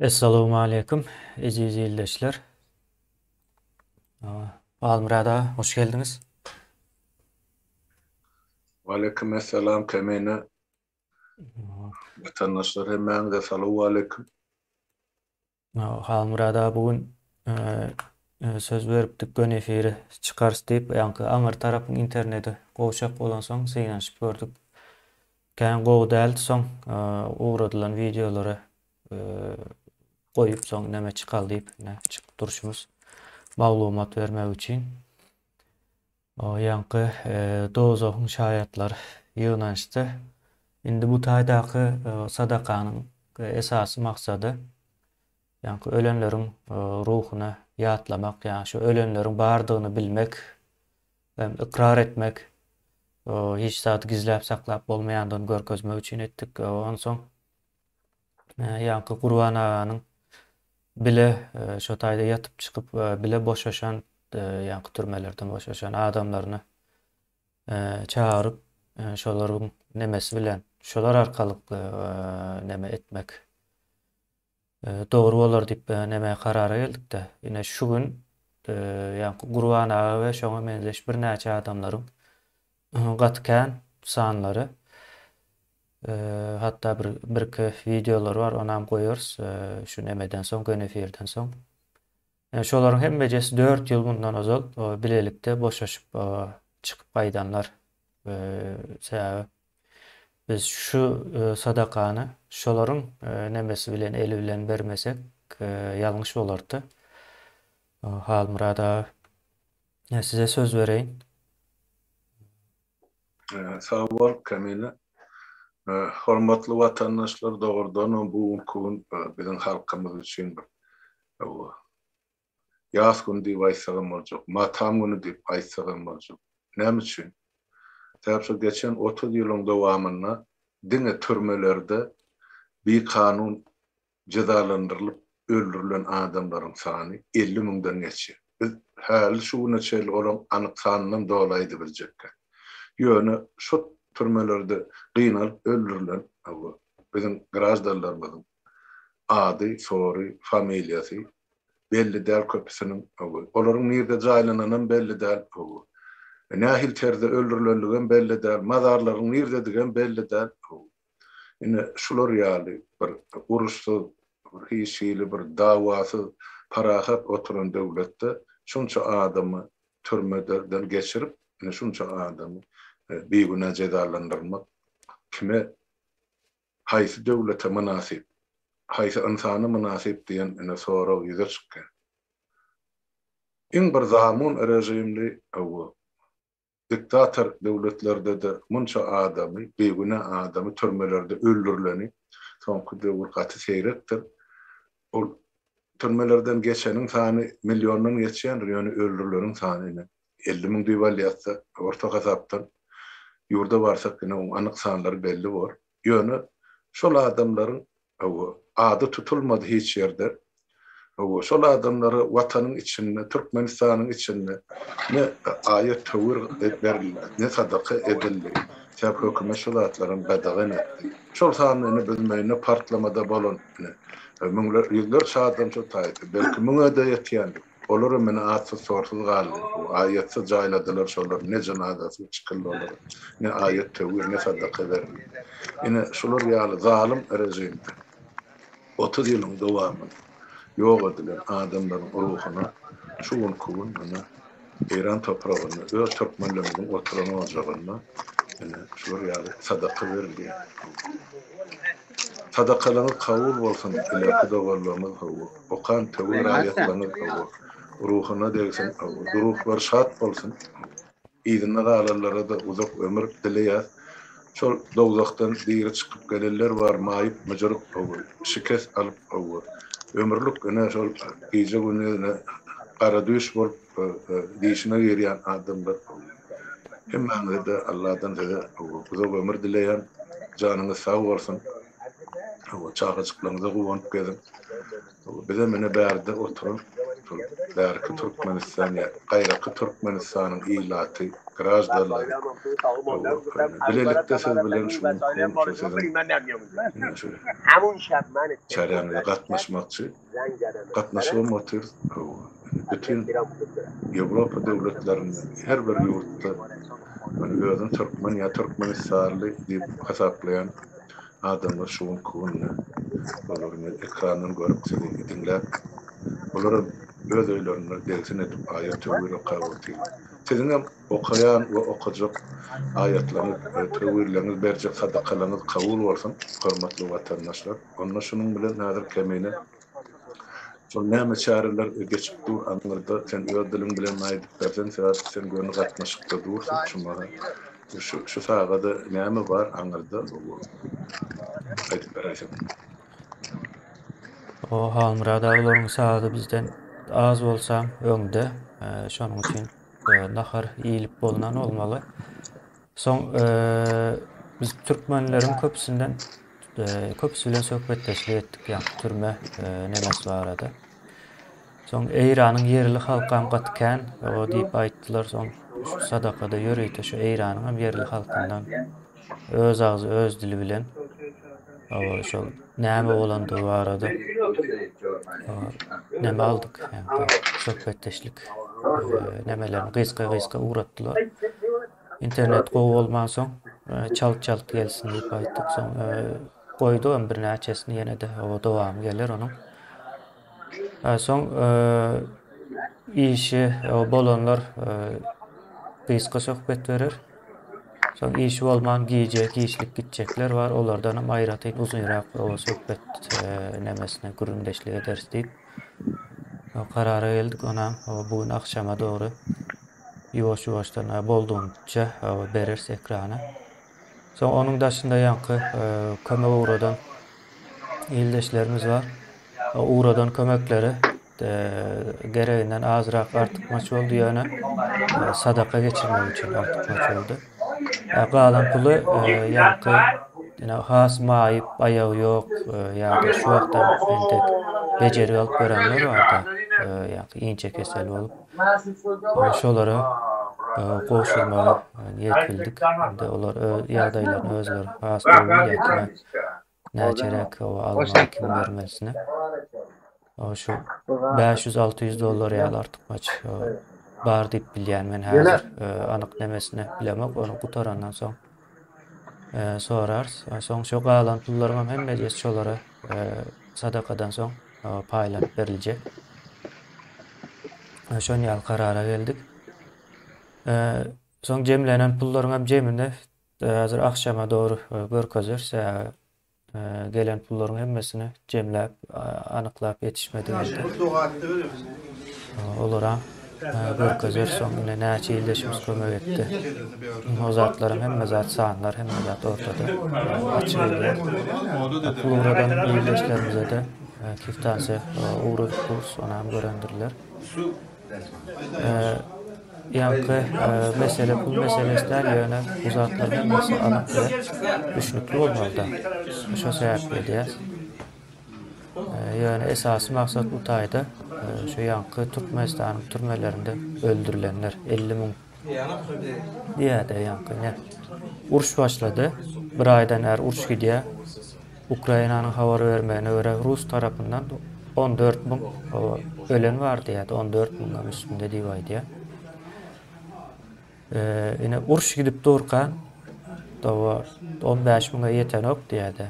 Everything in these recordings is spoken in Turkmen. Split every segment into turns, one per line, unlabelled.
Essalawmaleýkum eziz ildeşler. Halmyrat aga, hoş geldiňiz.
Waleýkim essalam Kemine. Watandaşlar hemmäňize salowaleýkim.
Halmyrada bu gün söz beripdik göni efire çykarys diýip ýaňky aňyr tarapyň interneti gowşak bolansoň synanyşyp gördük kän gowy däldi soň ugradylan wideolary goýup soň näme çykal diýip ine çykyp durşumyz maglumat bermek üçin O ýaňky dozahyň şaýatlar ýygnanyşdy. Indi bu taýdaky sadakanyň esasy maksady, ýaňky ölenleriň ruhuny ýatlamak, ýagny şu ölenleriň bardygyny bilmek hem ykrar etmek, hiç zady gizläp saklap bolmaýandygyny görkezmek üçin etdik. Onsoň Ýaňky Gurban aganyň bile şo taýda ýatyp çykyp bile boşaşan ýaňky türmelerden boşaşan adamlaryny çagyryp şolaryň nemesi bilen şolar arkalykly neme etmek dogry bolar diýip neme karara geldikde ine şu gün ýaňky Gurban aga we şoňa meňzeş birnäçe adamlaryň gaty kän sanlary Hatda bir birki wideolary bar onam goýarys şu nemeden soň göni efirden soň. Ýa şolaryň hemmejesi 4 ýyl mundan ozal bilelikde boşaşyp çykyp gaýdanlar. Sebäbi biz şu sadakany şolaryň nemesi bilen eli bilen bermesek ýalňyş bolardy. Halmyrat aga size söz bereýin.
Sag bol, Kamila. Hormatly watandaşlar, dogrudanam bu günki gün biziň halkymyz üçin bir ýas güni diýip aýtsagam boljak, matam güni diýip aýtsagam boljak. Näme üçin? Sebäbi şu geçen otuz ýylyň dowamynda diňe türmelerde bikanun jezalandyrylyp öldürilen adamlaryň sany elli müňden geçýär. Biz häli şu güne çenli olaryň anyk sanynam doly aýdybiljekkäk. Ýöne şo türmelerde gynalyp öldürilen biziň graždanlarymyzyň ady, sory, familiýasy belli däl köpüsiniň. Olaryň nirde jaýlananam belli däl. Nähili terzde öldürilendigem belli däl. Mazarlaryň nirdedigem belli däl. Ine, şular ýaly bir uruşsyz, hiç hili bir dawasyz parahat oturan döwletde şunça adamy türmeden geçirip, ine, şunça adamy bigünä jezalandyrmak kime, haýsy döwlete mynasyp, haýsy ynsana mynasyp diýen, ine, sorag ýüze çykýar. Iň bir zamun režimli, hawa, Diktator döwletlerde-de munça adamy, bigünä adamy türmelerde öldürileni soňky döwür gaty seýrekdir. Ol türmelerden geçeniň sany milliondan geçýändir, ýöne öldürileniň sany ine, elli müň diýip alýarsa, orta hasapdan ýurda barsak ine oň anyk sanlary belli bor. Ýöne şol adamlaryň, hawa, ady tutulmady hiç ýerde. Hawa, şol adamlara Watanyň içinde, Türkmenistanyň içinde ne aýat-töwir berildi, ne sadaka edildi. Sebäbi hökümet şu zatlaram gadagan etdi. Şol sanda indi biz meýnde partlamada bolan, ine, müňler, ýüzlerçe adam şo taýda, belki müňe-de ýetýändir. Olaram ine atsyz-sorsuz galdy. Aýatsyz jaýladylar şolary, ne jynazasyna çykyldy olaryň, ne aýat töwir, ne sadaka berildi. Ine, şular ýaly zalym režimde otuz ýylyň dowamynda ýok edilen adamlaryň ruhuna şu günki gün ine Eýran topragynda, öz türkmenlerimiziň oturan ojagynda ine şular ýaly sadaka berilýär. Sadakalaňyz kabul bolsun ilerki doganlaryňyz hawa okan töwir raýatlaňyz hawa ruhyna degsin hawa duruhlary şat bolsun yzynda galanlarada uzak ömür dileýäs şol dowzahdan diri çykyp gelenler bar maýyp myjyryk hawa şikes alyp hawa ömürlik ine şol gije gündizine gara düýş bolup Dişime girýän adamlar hemmäňizede Alladan size uzak ömür dileýän. Janyňyz sag bolsun. Çagajyklaryňyza guwanyp geziň. Bizem ine bärde oturan bärki Türkmenistan ýa gaýraky Türkmenistanyň ilaty, graždanlary. Bilelikde siz bilen şu gün siziň çäräňize gatnaşmakçy. gatnaşybam otyr bütin ýewropa döwletlerinde her bir ýurtda ony özüni türkmen ýa türkmenistanly diýip hasaplaýan adamlar şu günki günde olar men ekrandan görüp sizi diňläp olaram öz öýlerinde degsin edip aýat töwir okap otyrlar siziňem okaýan we okajak aýatlaryňyz töwirleriňiz berjek sadakalaryňyz kabul bolsun hormatly watandaşlar. Onda şunuň bilen häzir kemine şol näme çäreler geçip dur aňyrda sen öz diliň bilen aýdyp berseň sebäp sen göni gatnaşykda dursuň şu maha şu şu sagada näme bar aňyrda aýdyp beräýseň.
O Halmyrat aga olaryň sagady bizden az bolsa öňde şonuň üçin nahar iýilip bolnan bolmaly. Soň biz türkmenleriň köpüsinden köpüsi bilen söhbetdeşlik etdik ýa türme nemes barada. Soň Eýranyň ýerli halkam gaty kän o diýip aýtdylar. Soň sadakada ýörite şu Eýranyň hem ýerli halkyndan öz agzy öz dili bilen şol näme bolandygy barada neme aldyk söhbetdeşlik nemelerini gysga gysga ugratdylar. Internet gowy bolmansoň, çalt-çalt gelsin diýip aýtdyk. Soň goýdugam birnäçesini ýene-de, oba dowamy geler onuň. Soň işi bolanlar gysga söhbet berer. Soň işi bolman gije giçlik gitjekler bar, olardanam aýratyn uzynrak oba söhbet nemesine gürrüňdeşlik ederis diýip karara geldik. Onam bu gün agşama dogry Ýuwaş ýuwaşdan boldugyňça bereris ekrana. Soň onuň daşynda ýaňky kömek ugradan ildeşlerimiz bar. Ugradan kömekleri gereginden azrak artykmaç boldy ýöne sadaka geçirmek üçin artykmaç boldy. Galan puly ýaňky ýene has maýyp, aýagy ýok ýa-da şu wagtam entek bejergi alyp görenler bar-da, ýaňky inçe kesel bolup. we şolara goşulmaga niýet bildik. Indi olar öz ýagdaýlaryny özleri has gowy ýa-da näçeräk hawa almaly kim bermelisini şu bäş ýüz, alty ýüz dollar ýaly artykmaç bar diýip bilýän men häzir anyk nemesini bilemok ony gutarandan soň sorarys. Soň şo galan pullaryň hem hemmesi şolara sadakadan soň paýlanyp beriljek. Şon ýaly karara geldik. Soň jemlenen pullaryň hem jemini hazir agşama dogry görkezeris. Gelen pullaryň hemmesini jemläp, anyklap ýetişmedi mende. Olaram görkezer soň ine näçe ildeşimiz kömek etdi. O zatlaram hemme zat sanlar, hemme zat ortada. Açyk edýän. Pul ugradan ildeşlerimize-de kiftansy ugradyp durus, onam görendirler. Ýaňky mesele pul meselesi däl, ýöne bu zatlar hemmesi alyp bilen düşnükli bolmalyda. Şo sebäpli edýäs. Ýöne esasy maksat bu taýda, şo ýaňky Türkmenistanyň türmelerinde öldürilenler, elli müň Diýýärdi ýaňky ine. Uruş başlady. Bir aýdan bäri uruş gidýär. Ukrainanyň habar bermegine görä, rus tarapyndan on dört müň ölen bar diýýärdi, on dört müňden üstünde diýip aýdýar. Ine, uruş gidip durka, dawa on bäş müňe ýetenok diýýärdi.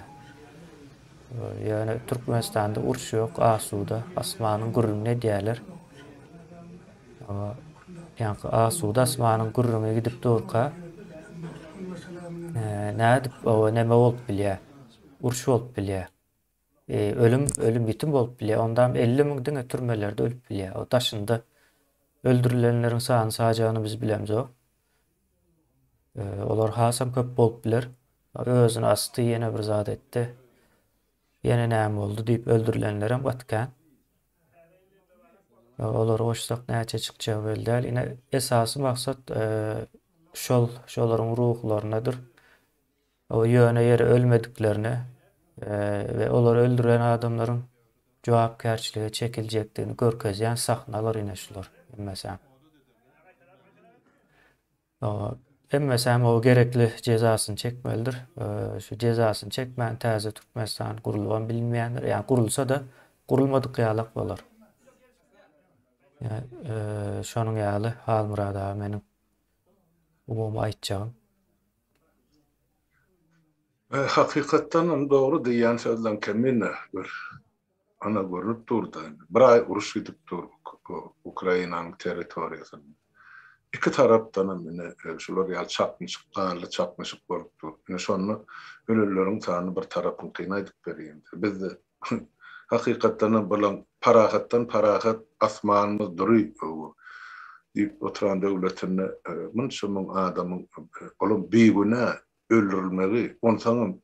Ýöne Türkmenistanda uruş ýok, asuda, asmanyň gürrüňini edýärler. Ýaňky asuda asmanyň gürrüňi gidip durka, nädip oba näme bolup bilýär? Uruş bolup bilýär. E, ölüm, ölüm ýitim bolup bilýär. Ondam 50 müň diňe türmelerde ölüp bilýär. O daşynda öldürilenleriň sany sajagyny biz bilemzok. E, olar hasam köp bolup biler. Özüni asty, ýene bir zat etdi. Ýene näme boldy diýip öldürilenler hem gaty kän. Olary goşsak näçe çykjagy belli däl. Ine esasy maksat e, şol şolaryň ruhlarynadyr. O ýöne ýere ölmediklerine e, we olary öldüren adamlaryň jogapkärçilige çekiljekdigini görkezýän sahnalar ine şular hemmesi. Hemmesi hem o gerekli jezasyny çekmelidir. Şu jezasyny çekmän täze Türkmenistan gurulybam bilinmeýändir. Ýa gurulsa-da gurulmadyk ýalak bolar. Ýa şonuň ýaly Halmyrat aga meniň umumy aýtjagym.
Hakykatdanam dogry diýýän sözleň kemine bir. Ana görnüp dur-da indi. Bir aý uruş gidip dur Ukrainanyň territoriýasynda. Iki tarapdanam ine, şular ýaly çaknyşyk, ganly çaknyşyk bolup dur. Ine, şonda ölenleriň sany bir tarapyňkyny aýdyp berýin-de. Bizde, hakykatdanam, bilen parahatdan parahat asmanymyz dury bu diýip oturan döwletinde munça müň adamyň, olam bigünä öldürilmegi, onsoňam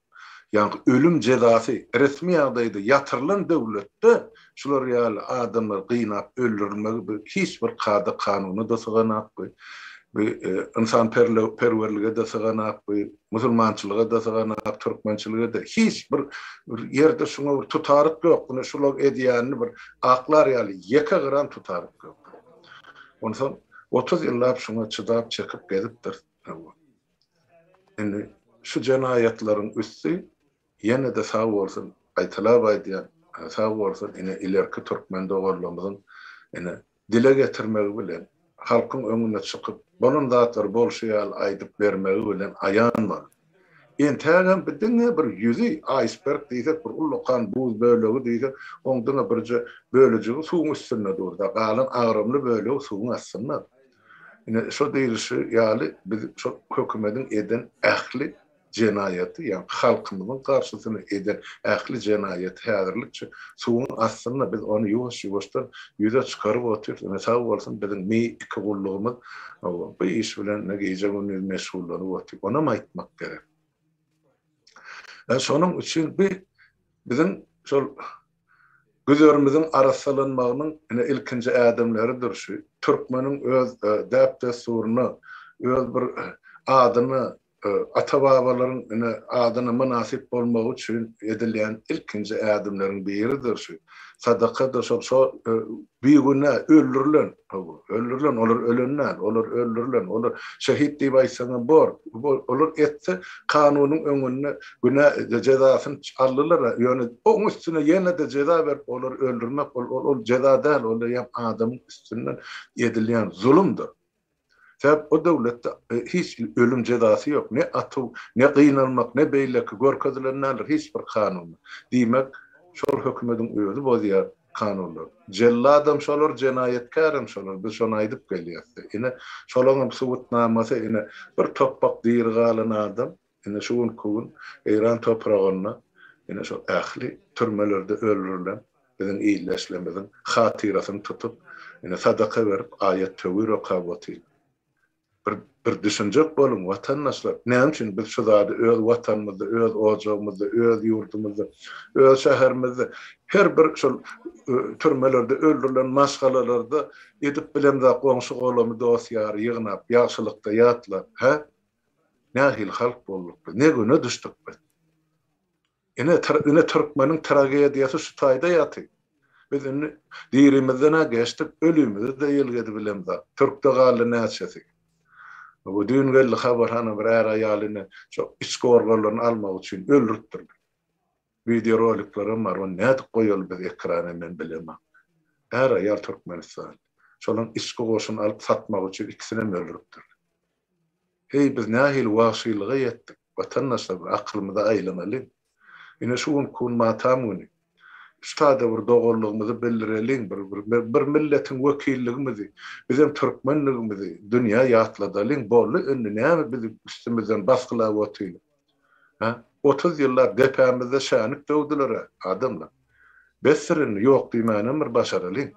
ýaňky ölüm jezasy resmi ýagdaýda ýatyrylan döwletde şular ýaly adamlar gynap öldürilmegi bu hiç bir kada-kanuna-da syganakby, bu ynsanperwerlige-de syganakby, musulmançylyga-da syganak, türkmençilige-de hiç bir ýerde şuňa bir tutaryk ýok. Ine şular edýänini bir aklar ýaly ýeke gram tutaryk ýok. Onsoň otuz ýyllap şuňa çydap-çekip gezipdiris. Indi şu jenaýatlaryň üsti ýene-de sag bolsun, gaýtalap aýdýan, sag bolsun ine ilerki türkmen doganlarymyzyň ine dile getirmegi bilen, halkyň öňüne çykyp, bolan zatlar bolşy ýaly aýdyp bermegi bilen aýan boldy. Entägem bi diňe bir ýüzi, aýsberg diýsek, bir ullakan buz bölegi diýsek, oň diňe birje bölejigi suwuň üstünde durda, galan agramly bölegi suwuň astynda. Ine, şo diýlişi ýaly, biz şo hökümediň eden ähli jenaýaty, ýagny halkymyzyň garşysyna eden ähli jenaýaty häzirlikçe suwuň astynda, biz ony ýuwaş-ýuwaşdan ýüze çykaryp otyrys. Ine, sag bolsun, biziň mi iki gullugymyz bu iş bilen ine gije-gündiz meşgullanyp otyr. Onam aýtmak gerek. Şonuň üçin bi biziň şol Güzerimiziň arassalanmagynyň ine ilkinji ädimleridir şu. Türkmeniň öz däp-dessuryna, öz bir adyna, ata-babalaryň ine adyna mynasyp bolmagy üçin edilýän ilkinji ädimleriň biridir şu. Sadakadyr şol. Bigünä öldürilen, hawa, öldürilen, olar ölen däl, olar öldürilen, olar şehit diýip aýtsaňam bor, olar etse kanunyň öňünde günä jezasyny aldylar, ýöne oň üstüne ýene-de jeza berip olary öldürmek, ol jeza däl, ol eýýäm adamyň üstünden edilýän zulumdyr. Sebäp o döwletde hiç ölüm jezasy ýok, ne atuw, ne gynalmak, ne beýleki görkezilen däldir hiç bir kanunda. Diýmek, şol hökümediň özi bozýar kanunlary. Jelladam şolar, jenaýatkärem şolar, biz şony aýdyp gelýäs-de. Ine, şolaňam subutnamasy, ine, bir topbak diri galan adam, Ine şu günki gün Eýran topragynda ine şu ähli türmelerde öldürilen biziň ildeşlerimiziň hatyrasyny tutup, ine sadaka berip, aýat-töwir okap otyr. Bir bir düşünjek boluň, watandaşlar, näme üçin biz şu zady öz watanymyzda, öz ojagymyzda, öz ýurdumyzda, öz şäherimizde her bir şol türmelerde öldürilen maşgalalarda edip bilemzok goňşy-golamy, dost-ýary ýygnap, ýagşylykda ýatlap, hä? Nähili halk bolduk biz, ne güne düşdük biz? Ine, türkmeniň tragediýasy şu taýda ýatyr. Biz indi dirimizden-ä geçdik, ölümimizi-de ýelgedi bilemzok. Türkde galdy näçesi? Bu düýn geldi habarhana bir är-aýaly indi şo iç gorgalaryny almak üçin öldüripdirler. Wideoroliklerem bar, ony nädip goýaly biz ekrana men bilemok. Är-aýal türkmenistanly. Şolaryň içki goşuny alyp satmak üçin ikisinem öldüripdirler. Heý biz nähili wagşylyga ýetdik watandaşlar bir akylymyza aýlanalyň. Ine şu gün kun matam güni. Üstada bir doganlygymyzy bildireliň bir bir milletiň wekilligimizi bizem türkmenligimizi dünýä ýatladalyň boldy indi näme bizi üstümizden basgylap otylyň. Hä? Otuz ýyllap depämizde şänik döwdüler-ä, adamlar. Besdir indi, ýok diýmänem bir başaralyň.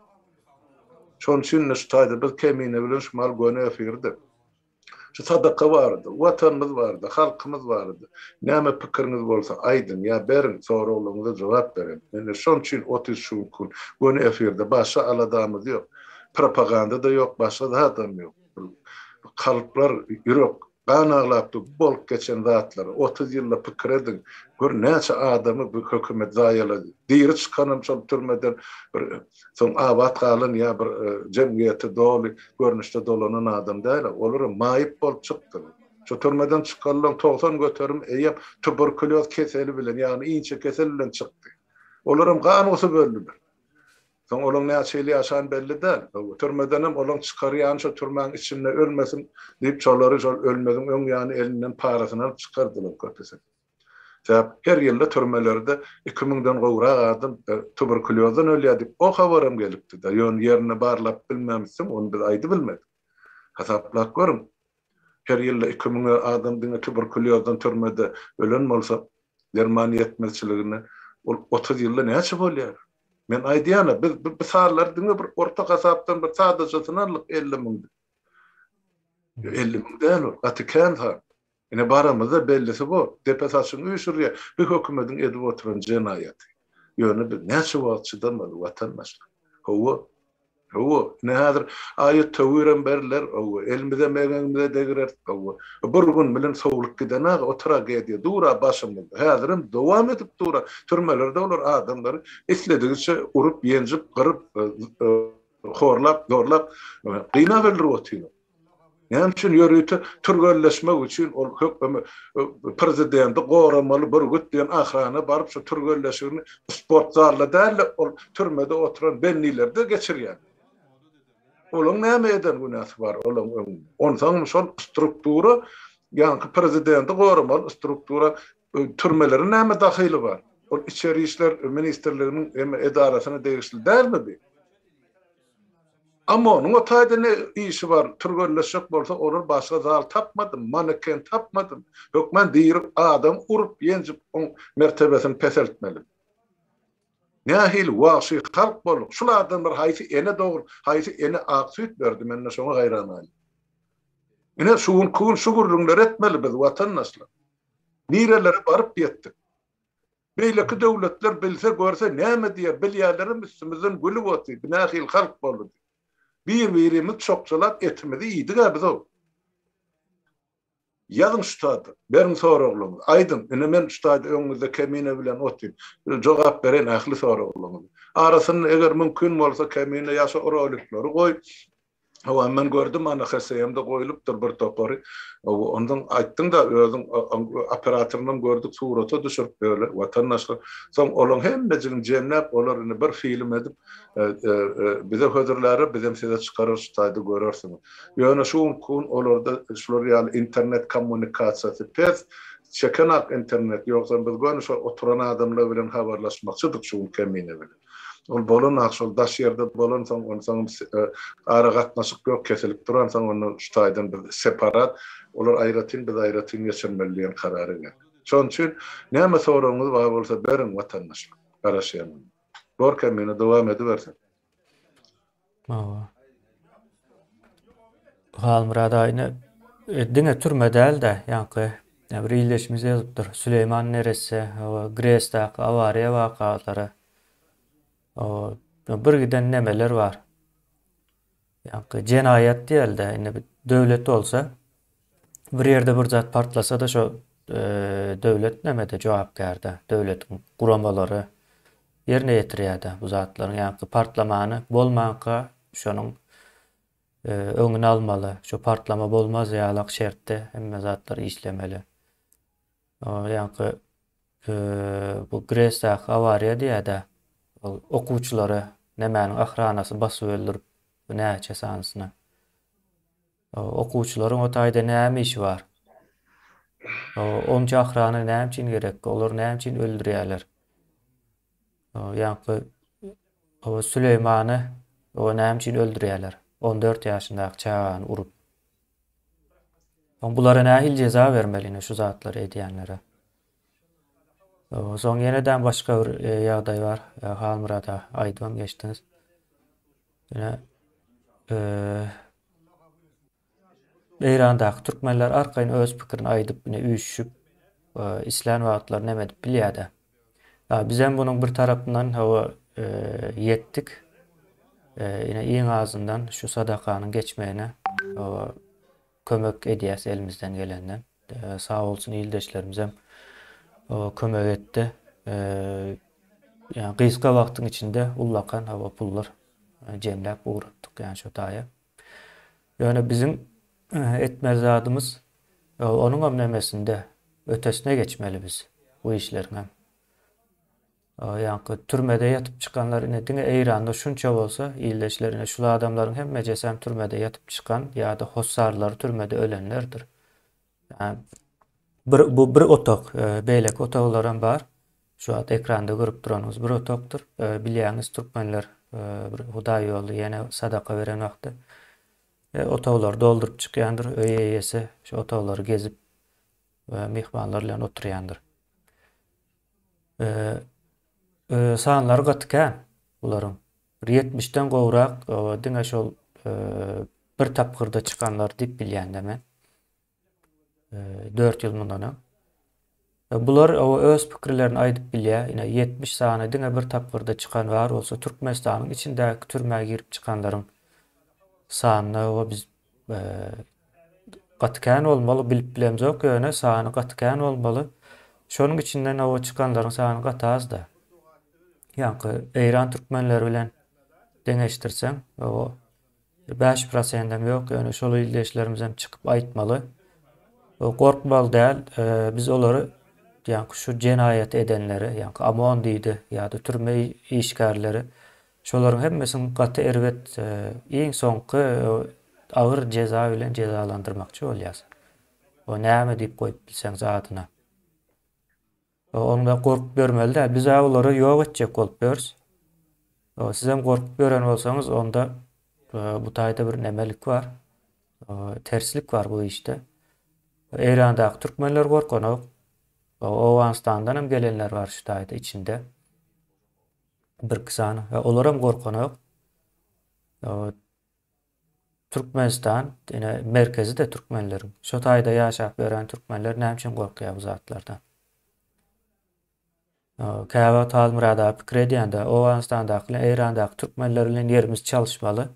Şonuň üçin-de şu taýda biz Kemine bilen şu mal göni efirde. Şu sadaka barada, Watanymyz barada, halkymyz barada näme pikiriňiz bolsa, aýdyň ýa beriň, soraglaryňyza jogap beriň. Indi şonuň üçin otuz şu gün göni efirde. Başga aladamyz ýok. Propaganda-da ýok, başga zadam ýok. Bu kalplar, ýürek Gan aglapdy bu bolup geçen zatlary otuz ýylda pikir ediň gör näçe adamy bu hökümet zaýalady diri çykanam şol türmeden bir soň abat galan ýa bir jemgyýete doly görnüşde dolanan adam däl olaram maýyp bolup çykdylar şu türmeden çykarylan togsan göterim eýýäm tuberkulýoz keseli bilen ýagny inçekesel bilen çykdy olaram gan gusup öldüler Soň olaň näçe ýyl ýaşany belli däl. Türmedenem olaň çykar ýany şo türmäň içinde ölmesin diýip şolary şol ölmeziň öň ýany elinden parasyny alyp çykardylar köpüsini. Sebäp her ýylda türmelerde iki müňden gowrak adam tuberkuliozdan ölýär diýip o habaram gelipdi-de, ýöne ýerinde barlap bilmämişsin, ony biz aýdybilmedik. Hasaplap görüň, her ýylda iki müň adam diňe tuberkulýozdan türmede ölen bolsa, derman ýetmezçiligine ol otuz ýylda näçe bolýar? Men aýdýan-a, biz bu sanlary diňe bir orta hasapdan bir sadajasyny aldyk, elli müň diýip. Elli müň däl ol, gaty kän san. Ine baramyzda bellisi bu. Depe saçyňy üýşürýä bu hökümediň edip oturan jenaýaty. Ýöne biz näçe wagt çydamaly watandaşlar. Howwa. Howwa. Ine häzir aýat töwirem beriler. Howwa. Elimizem egeňimize degireris. Howwa. Bir gün bilen sowlup gidenag o tragediýa dura başymyzda. Häzirem dowam edip dura. Türmelerde olar adamlary isledigiçe urup, ýenjip, gyryp, horlap, zorlap, gynap öldürip otylar. Näme üçin ýörite türgenleşmek üçin ol höküme prezidenti goramaly bürgüt diýen ahrana baryp şu türgenleşigini sport zalda dälde ol türmede oturan bennilerde geçirýär. Olaň näme eden günäsi bar olaň öňünde. Onsaňm şol struktura ýaňky prezidenti goramaly struktura türmeleriň näme dahyly bar. Ol içeri işler ministrliginiň eme edarasyna degişli dälmi bi. Amma onuň o taýda ne işi bar, türgenleşjek bolsa olar başga zal tapmadym, maneken tapmadym, hökman diri adam urup, ýenjip oň mertebesini peseltmelimi? Nähili wagşy halk bolduk, şul adamlar haýsy ene dogrup, haýsy ene ak süýt berdi, men-de şoňa haýran galýan. Ine, şu günki gün şu gürrüňleri etmeli biz, watandaşlar. Nirelere baryp ýetdik? Beýleki döwletler bilse görse näme diýer bilýärlerem üstümizden gülüp oty bu nähili halk boldy diýip. Bir birimiz çokçalap etimizi iýdigä bizow. Ýazyň şutady. Beriň soraglaňyzy. Aýdyň. Ine men şutady öňüňizde kemine bilen otyn. Jogap bereýin ähli soraglaňyzy. Arasynda eger mümkin bolsa kemine ýa şo rolikleri goý. Hawa, men gördüm, ana, HSM-de goýlupdyr bir topary. Ondan aýtdyň-da, özüň operatorynam gördük, surata düşürip böle, watandaşlar. Soň olaň hemmejigini jemläp, olar indi bir film edip, bize hödürlärer, bizem size çykararys şu taýda görersiňiz. Ýöne şu günki gün olarda şular ýaly internet kommunikasiýasy pes, çeken-ak internet, ýogsam biz göni şo oturan adamlar bilen habarlaşmakçydyk şu gün kemine bilen. Ol bolan-a şol daş ýerde bolansoň, onsoň ara gatnaşyk ýok, kesilip duransoň, onda şu taýdan biz separat, olar aýratyn, biz aýratyn geçirmeli diýen karara geldik. Şonuň üçin näme soragyňyz bar bolsa beriň, watandaşlar. Garaşýan onda. Gorkemine dowam edibersin. Hawa.
Halmyrat aýna e, diňe türme däl-de, ýaňky ýa bir ildeşimiz ýazypdyr. Süleýman neresse, hawa, GRES-däki awariýa wakalary. Hawa, ýa bir giden nemeler bar. Ýaňky jenaýat diýeli-de, indi bir döwlet bolsa, Bir ýerde bir zat partlasa-da şo döwlet nämede jogapkärde, döwletiň guramalary ýerine ýetirýärde bu zatlaryň ýaňky partlamany bolmanka şonuň öňüni almaly, şo partlama bolmaz ýalak şertde hemme zatlar işlemeli. Ýaňky bu Gresdaky awariýa diýýärde, ol okuwçylary nämäniň ahranasy basyp öldüripdi näçe sanysyny. Okuwçylaryň o taýda näme işi bar? Onça ahrana näme üçin gerek? Olary näme üçin öldürýärler? Ýaňky Süleýmany näme üçin öldürýärler? On dört ýaşyndaky çagany urup. Bulara nähili jeza bermeli ine şu zatlary edýänlere? Soň ýene-de başga bir e, ýagdaý bar. E, Halmyrada aýdybam geçdiňiz. Ýene e, Eýrandaky türkmenler arkaýyn öz pikirini aýdyp, ýene üýşüşip, e, islän wagtlary näme edip bilýär-de. Ha, biz hem bunuň bir tarapyndan hawa e, ýetdik. E, ýene iň azyndan şu sadakanyň geçmegine hawa Kömek edýäs elimizden gelenden. Sag bolsun ildeşlerimizem kömek etdi. Ýa gysga wagtyň içinde ullakan hawa pullar jemläp ugratdyk ýa şo taýa. Ýöne biziň etmeli zadymyz onuňam nemesinde ötesine geçmeli biz bu işleriňem. Ýaňky türmede ýatyp çykanlar ine diňe Eýranda şunça bolsa, ildeşler ine şul adamlaryň hemmejesem türmede ýatyp çykan ýa-da hossarlary türmede ölenlerdir. Bir bu bir otag, beýleki otaglaram bar. Şu wagt ekranda görüp duranyňyz bir otagdyr. Bilýäňiz türkmenler bir hudaý ýolly ýene sadaka beren wagty otaglary dolduryp çykýandyr. Öý eýesi şu otaglary gezip myhmanlar bilen oturýandyr. Sanlary gaty kän bularyň. Bir ýetmişden gowrak diňe şol bir tapgyrda çykanlar diýip bilýän-de men. Dört ýyl mundan öň. Bular öz pikirlerini aýdyp bilýär. Ine ýetmiş sany diňe bir tapgyrda çykan bar bolsa Türkmenistanyň içindäki türmä girip çykanlaryň sanyna biz Gaty kän bolmaly bilip bilemzok ýöne sany gaty kän bolmaly. Şonuň içinden owa çykanlaryň sany gaty azda. Ýaňky Eýran türkmenleri bilen deňeşdirseň, owa bäş prosendem ýok, ýöne şol ildeşlerimizem çykyp aýtmaly. O gorkmaly däl, biz olary ýaňky şu jenaýat edenleri, ýaňky OMON diýdi ýa-da türme işgärleri Şolaryň hemmesini gaty erbet iň soňky agyr jeza bilen jezalandyrmakçy bolýas. O näme diýip goýup bilseňiz adyna. O onda gorkup ýörmeli däl. Biz-ä olary ýok etjek bolup ýörüs. O sizem gorkup ýören bolsaňyz onda bu taýda bir nemelik bar. O terslik bar bu işde. Eýrandaky türkmenler gorkanok. O Owganystandan hem gelenler bar şu taýda içinde. Birki sany. Ýa olaram gorkanok. Ýa Türkmenistan, ýene merkezi-de türkmenleriň. Şo taýda ýaşap ýören türkmenler näme üçin gorkýar bu zatlardan? Käbä wagt Halmyrat aga pikir edýände, Owganystandaky bilen Eýrandaky türkmenler bilen ýerimiz çalyşmaly.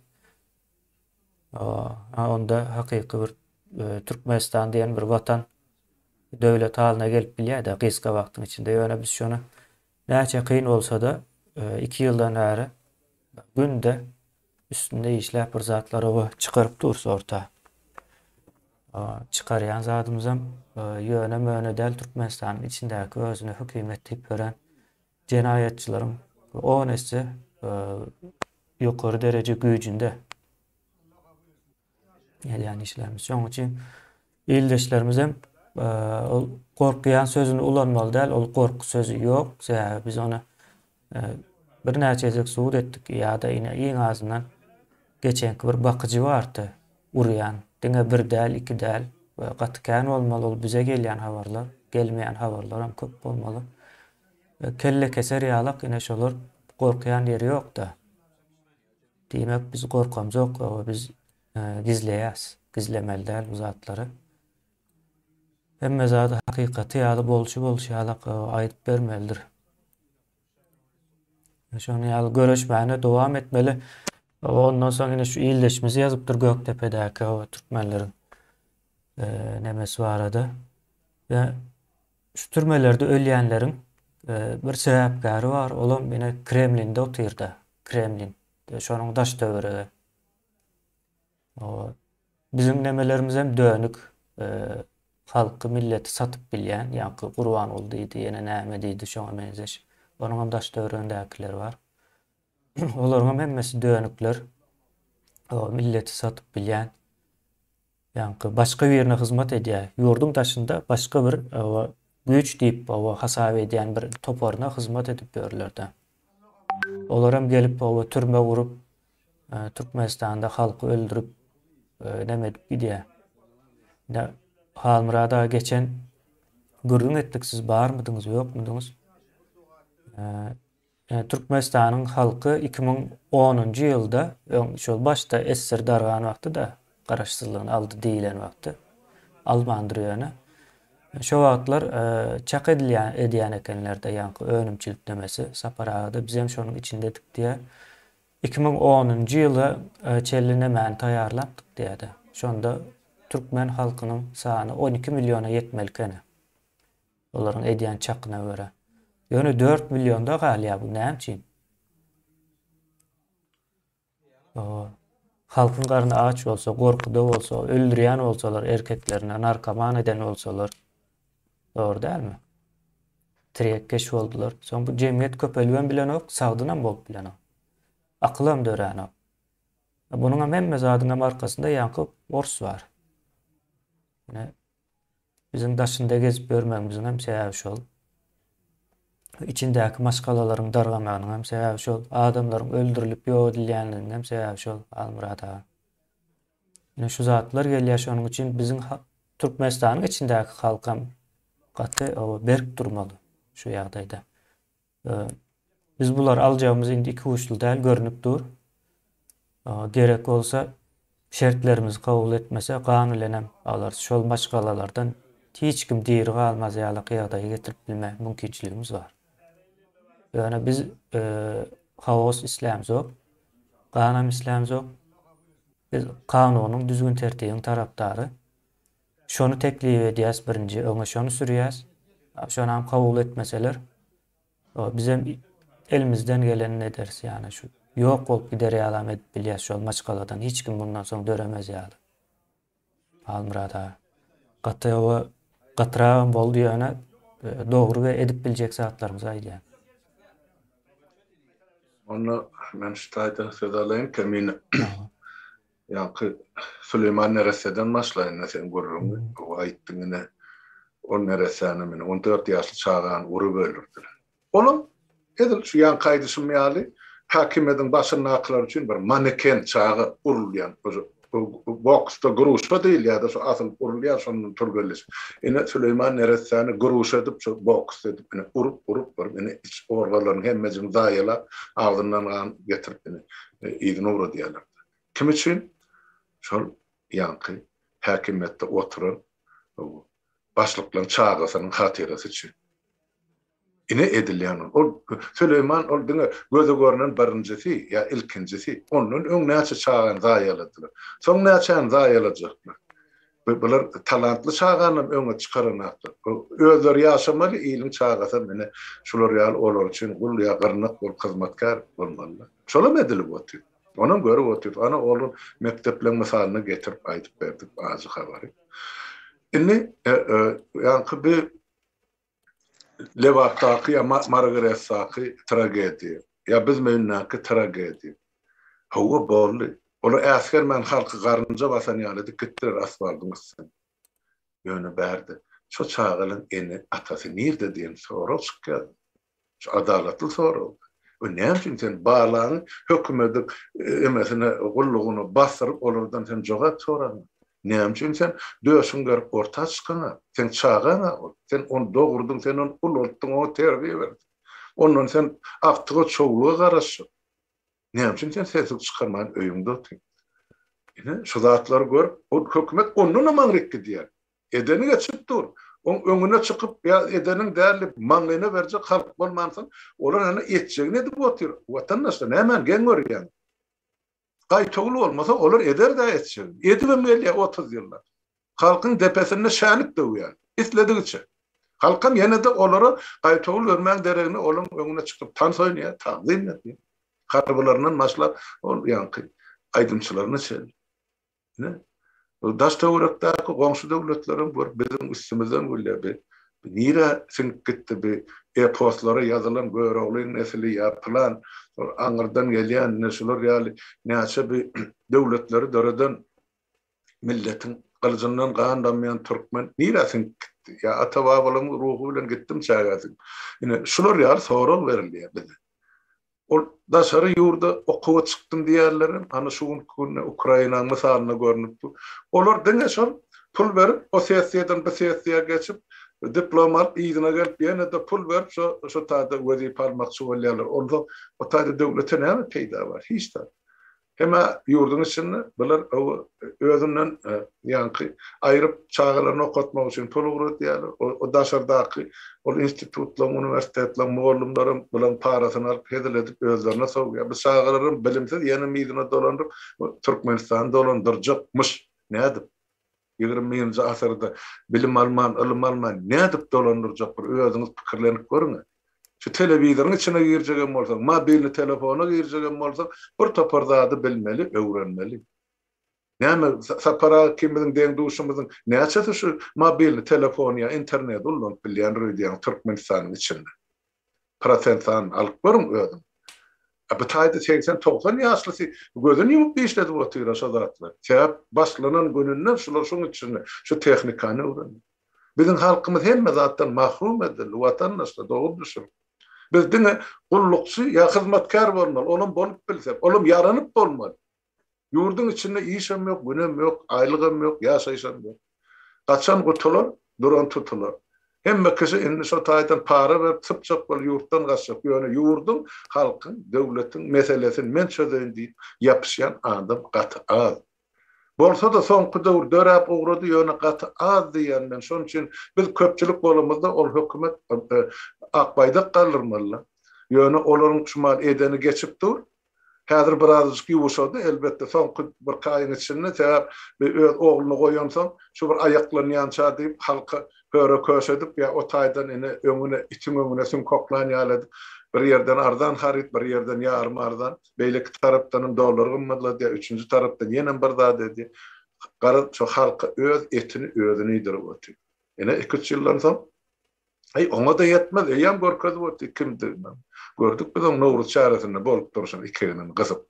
A onda hakyky bir Türkmenistan diýen bir watan, döwlet halyna gelip bilýär-de gysga wagtyň içinde. Ýöne biz şony Näçe kyn bolsa-da, iki ýyldan bäri günde üstünde işläp bir zatlary oba çykaryp durus orta. Çykarýan zadymyzam ýöne-möne däl Türkmenistanyň içindäki özüne hökümet diýip ýören jenaýatçylaryň on esse ýokary dereje güýjünde. Gelýän işlerimiz. Şonuň üçin ildeşlerimiz hem e, ol gorkýan sözüni ulanmaly däl. Ol gorky sözi ýok. Sebäbi biz ony e, bir näçe gezek subut etdik ýa-da ine iň azyndan geçenki bir bakyjy bardy urýan. Diňe bir däl, iki däl we gaty kän bolmaly ol bize gelýän habarlar, gelmeýän habarlar hem köp bolmaly. E, kelle keser ýalak ine şolar gorkýan ýeri ýok-da. Diýmek biz gorkamzok we biz gizleýäs, gizlemeli däl bu zatlary. Hemme zady hakykaty ýaly bolşy bolşy ýaly aýdyp bermelidir. Şony ýaly göreşmäne dowam etmeli. Ondan soň ine şu ildeşimiz ýazypdyr Gökdepedäki türkmenleriň nemesi barada. Şu türmelerde ölýänleriň bir sebäpkäri bar, olam ine Kremlinde otyr-da, Kremlin, şonuň daş-töweregi. Biziň nemelerimizem dönük, halky, milleti satyp bilýän, ýaňky Gurbanguly diýdi, ýene näme diýdi, şoňa meňzeş. Onuňam daş-töweregindäkiler bar. Olaryňam hemmesi dönükler, milleti satyp bilýän, Ýaňky başga birine hyzmat edýär. Ýurduň daşynda başga bir güýç diýip hasap edýän bir toparyna hyzmat edip ýörler-dä. Olaram gelip türme gurup, Türkmenistanda halky öldürip, näme edip gidýär. Indi Halmyrat aga geçen gürrüň etdik siz barmydyňyz, ýokmudyňyz. Türkmenistanyň halky iki müň onunjy ýylda öň şol başda SSR dargan wagty-da garaşsyzlygyny aldy diýilen wagty, almandyr ýöne. Şo wagtlar çak edilýän edýän ekenler-de ýaňky önümçilik nämesi. Sapar aga-da bizem şonuň içindedik diýýär. Iki müň onunjy ýyla çenli nemäni taýýarlapdyk diýýär-de. Şonda türkmen halkynyň sany on iki milliona ýetmeli ekeni. Olaryň edýän çakyna görä. Ýöne dört millionda galýa bu näme üçin? Oho. Halkyň garny aç bolsa, gorkuda bolsa, öldürýän bolsalar erkeklerini, narkoman eden bolsalar. Dogry dälmi? Tirekkeş boldular. Soň bu jemgyýet köpelibem bilenok, sagdynam bolup bilenok. Akylam döränok. Bunuňam hemme zadyňam arkasynda ýaňky ors bar. Ine, Biziň daşynda gezip ýörmegimiziňem sebäbi şol. Içindäki maşgalalaryň dargamagynyňam sebäbi şol. Adamlaryň öldürilip ýok edilýänligiňem sebäbi şol, Halmyrat aga. Ine şu zatlar gelýär, şonuň üçin biziň Türkmenistanyň içindäki halkam gaty berk durmaly şu ýagdaýda. Biz bulary aljagymyz indi iki uçly däl görnüp dur. Gerek bolsa şertlerimizi kabul etmese gan bilenem alarys. Şol maşgalalardan hiç kim diri galmaz ýaly ýagdaýa getirip bilme mümkinçiligimiz bar. Ýöne biz e, haos islämzok, ganam islämzok. Biz kanunyň düzgün tertibiň tarapdary. Şony teklip edýäs birinji öňe şony sürýäs. Şonam kabul etmeseler bizem elimizden gelenini ederis ýagny şu ýok bolup gider ýalam edip bilýäs şol maşgaladan hiç kim mundan soň döremez ýaly. Halmyrat aga. Gaty oba gatyragam boldy ýöne dogry we edip biljek zatlarymyzy aýdýan.
Onda men şu taýdan söz alaýyn Kemine. Ýaňky Süleýman neressäden başlaýynda seň gürrüňi gowy aýtdyň ine. Ol neressäni meni on dört ýaşly çagany urup öldürdiler. Olam edil şu ýaňky aýdyşym ýaly häkimiýetiň başyndakylar üçin bir maneken çaga urulýan boksda gruşa diýilýärdi şu asylyp urulýar şondan türgenleşip ine Süleýman neressäni gruş edip şu boks edip ine urup urup bir ine iç organlaryny hemmejini zaýalap agzyndan gan getirip ine yzyna uradýarlar. Kim üçin? Şol ýaňky häkimiýetde oturan başlyklaryň çagasynyň hatyrasy üçin. Ine edilýän ol. Ol Süleýman ol diňe göze görnen birinjisi ýa ilkinjisi. Ondan öň näçe çagany zaýaladylar. Soň näçäni zaýalajaklar. Bular talantly çaganam öňe çykaranaklar. Özleri ýaşamaly, iliň çagasam ine şular ýaly olar üçin gul ýa gyrnak bolup hyzmatkär bolmalylar. Şolam edilip otyr. Onam görüp otyr. Ana ol mekdepleň mysalyny getirip aýdyp berdi ajy habary. Indi ýaňky bi Lebapdaky ýa Margaretdaky tragediýa ýa biziň öýündäki tragediýa. Hawa boldy. Olar äsgermän halky garynja basan ýaly edip gitdiler asfaldyň üstüne. Ýöne bärde şo çagalaň ene atasy nirde diýen sorag çykýar. Şu adalatly sorag. We näme üçin sen balaňy hökümediň emesine, gullugyna basdyryp, olardan sen jogap soraňa? Näme üçin sen döşüň gerip orta çykaňa? Seň çagaň-a ol. Sen ony dogurdyň, sen ony ulaltdyň, oňa terbiýe berdiň. Ondan sen agtyga-çowluga garaşyp. Näme üçin sen sesiňi çykarman öýüňde otyň? Ine, şu zatlary görüp, ol hökümet ondanam aňryk gidýär. Edeni geçip dur. Oň öňüne çykyp, ýa edeniň däl diýip, maňlaýyna berjek halk bolmansoň, olar ýene etjegini edip otyr. Watandaşlar, nämäni geň görýäň? Gaýtawul bolmasa, olar eder-dä etjegini. Edibem gelýär otuz ýyllap. halkyň depesinde şänik döwýärdi. Isledigiçe. Halkam ýene-de olara gaýtawul bermäň deregine olaň öňüne çykyp tans oýnaýar, tagzym edýär. Harbylaryndan başlap ol ýaňky aýdymçylaryna çenli. Ine, bu daş-töwerekdäki goňşy döwletlerem görüp biziň üstümizden gülýär. Bi nirä siňip gitdi bi eposlara ýazylan Göroglyň nesli ýa pylan aňyrdan gelýän ine şular ýaly näçe bi döwletleri döreden milletiň gylyjyndan gan damýan türkmen nirä siňip gitdi? Ýa ata-babalaryň ruhy bilen gitdimi çägäsiň? Ine, şular ýaly sorag berilýär bize. Ol daşary ýurda okuwa çykdym diýýänlerem, hany şu günki günde Ukrainanyň mysalynda görnüp dur. Olar diňe şol pul berip, o sessiýadan bu sessiýa geçip, diplom alyp, yzyna gelip, ýene-de pul berip, şo, şo taýda wezipe almakçy bolýarlar. Onda o taýda döwlete näme peýda bar? Hiç zat. Hemä ýurduň içinde bular oba özünden ýaňky aýryp çagalaryny okatmak üçin pul ugradýarlar. O daşardaky ol institutlaryň, uniwersitetleriň mugallymlaram bularyň parasyny alyp hezil edip özlerine sowýar. Bu çagalaram bilimsiz ýene mizine dolanyp Türkmenistany dolandyrjakmyş. Nädip? Ýigrimi birinji asyrda bilim alman, ylym alman nädip dolandyrjak bir özüňiz pikirlenip görüň-ä. Şu telewizoryň içine girjegem bolsaň, mobilni telefona girjegem bolsaň, bir topar zady bilmeli, öwrenmeli. Näme, Sapar aga kimiziň deň-duşumyzyň näçesi şu mobilni telefony ýa interneti ulanyp bilýändir öýdýäňiz Türkmenistanyň içinde? prosent sanyny alyp görüň özüň. A bu taýda segsen, togsan ýaşlysy gözüni ýumup işledip otyr-a şo zatlar. Sebäp başlanan gününden şular şuň içinde şu tehnikany öwrendi. Biziň halkymyz hemme zatdan mahrum edildi, watandaşlar, dogry düşüniň. Biz diňe gullukçy ýa hyzmatkär bolmaly, olam bolup bilsek, olam ýaranyp bolmaly. Ýurduň içinde işem ýok, günem ýok, aýlygam ýok, ýaşaýyşam ýok. Gaçan gutular, duran tutular. Hemme kişi indi şo taýdan para berip sypjak bolup ýurtdan gaçjak, ýöne ýurduň, halkyň, döwletiň meselesin men çözeýin diýip ýapyşýan adam gaty az. Bolsa-da soňky döwür döräp ugrady, ýöne gaty az diýýän men. Şonuň üçin biz köpçülik bolamyzda ol hökümet ak baýdak galdyrmaly-la. Ýöne olaryň şu mahaly edeni geçip dur, Häzir birazajyk ýuwuşady, elbetde, soňky birki aýyň içinde, sebäp bir öz ogluny goýansoň, şu bir aýaklanýança diýip, halka höre-köşe edip, ýa o taýdan ine, öňüne, itiň öňüne süňk oklan ýaly edip, bir ýerden arzan haryt, bir ýerden ýarym arzan, beýleki tarapdanam dollar gymmatladýar, üçünji tarapdan ýenem bir zat edýär. Garaz, şu halka öz etini özünidirip otyr. Ine, iki-üç ýyldan soň, Eý, oňa-da ýetmez, eýýäm görkezip otdy kimdigini. Gördük biz oň Nowruz çäresinde bolup durşuny iki egniň gysyp.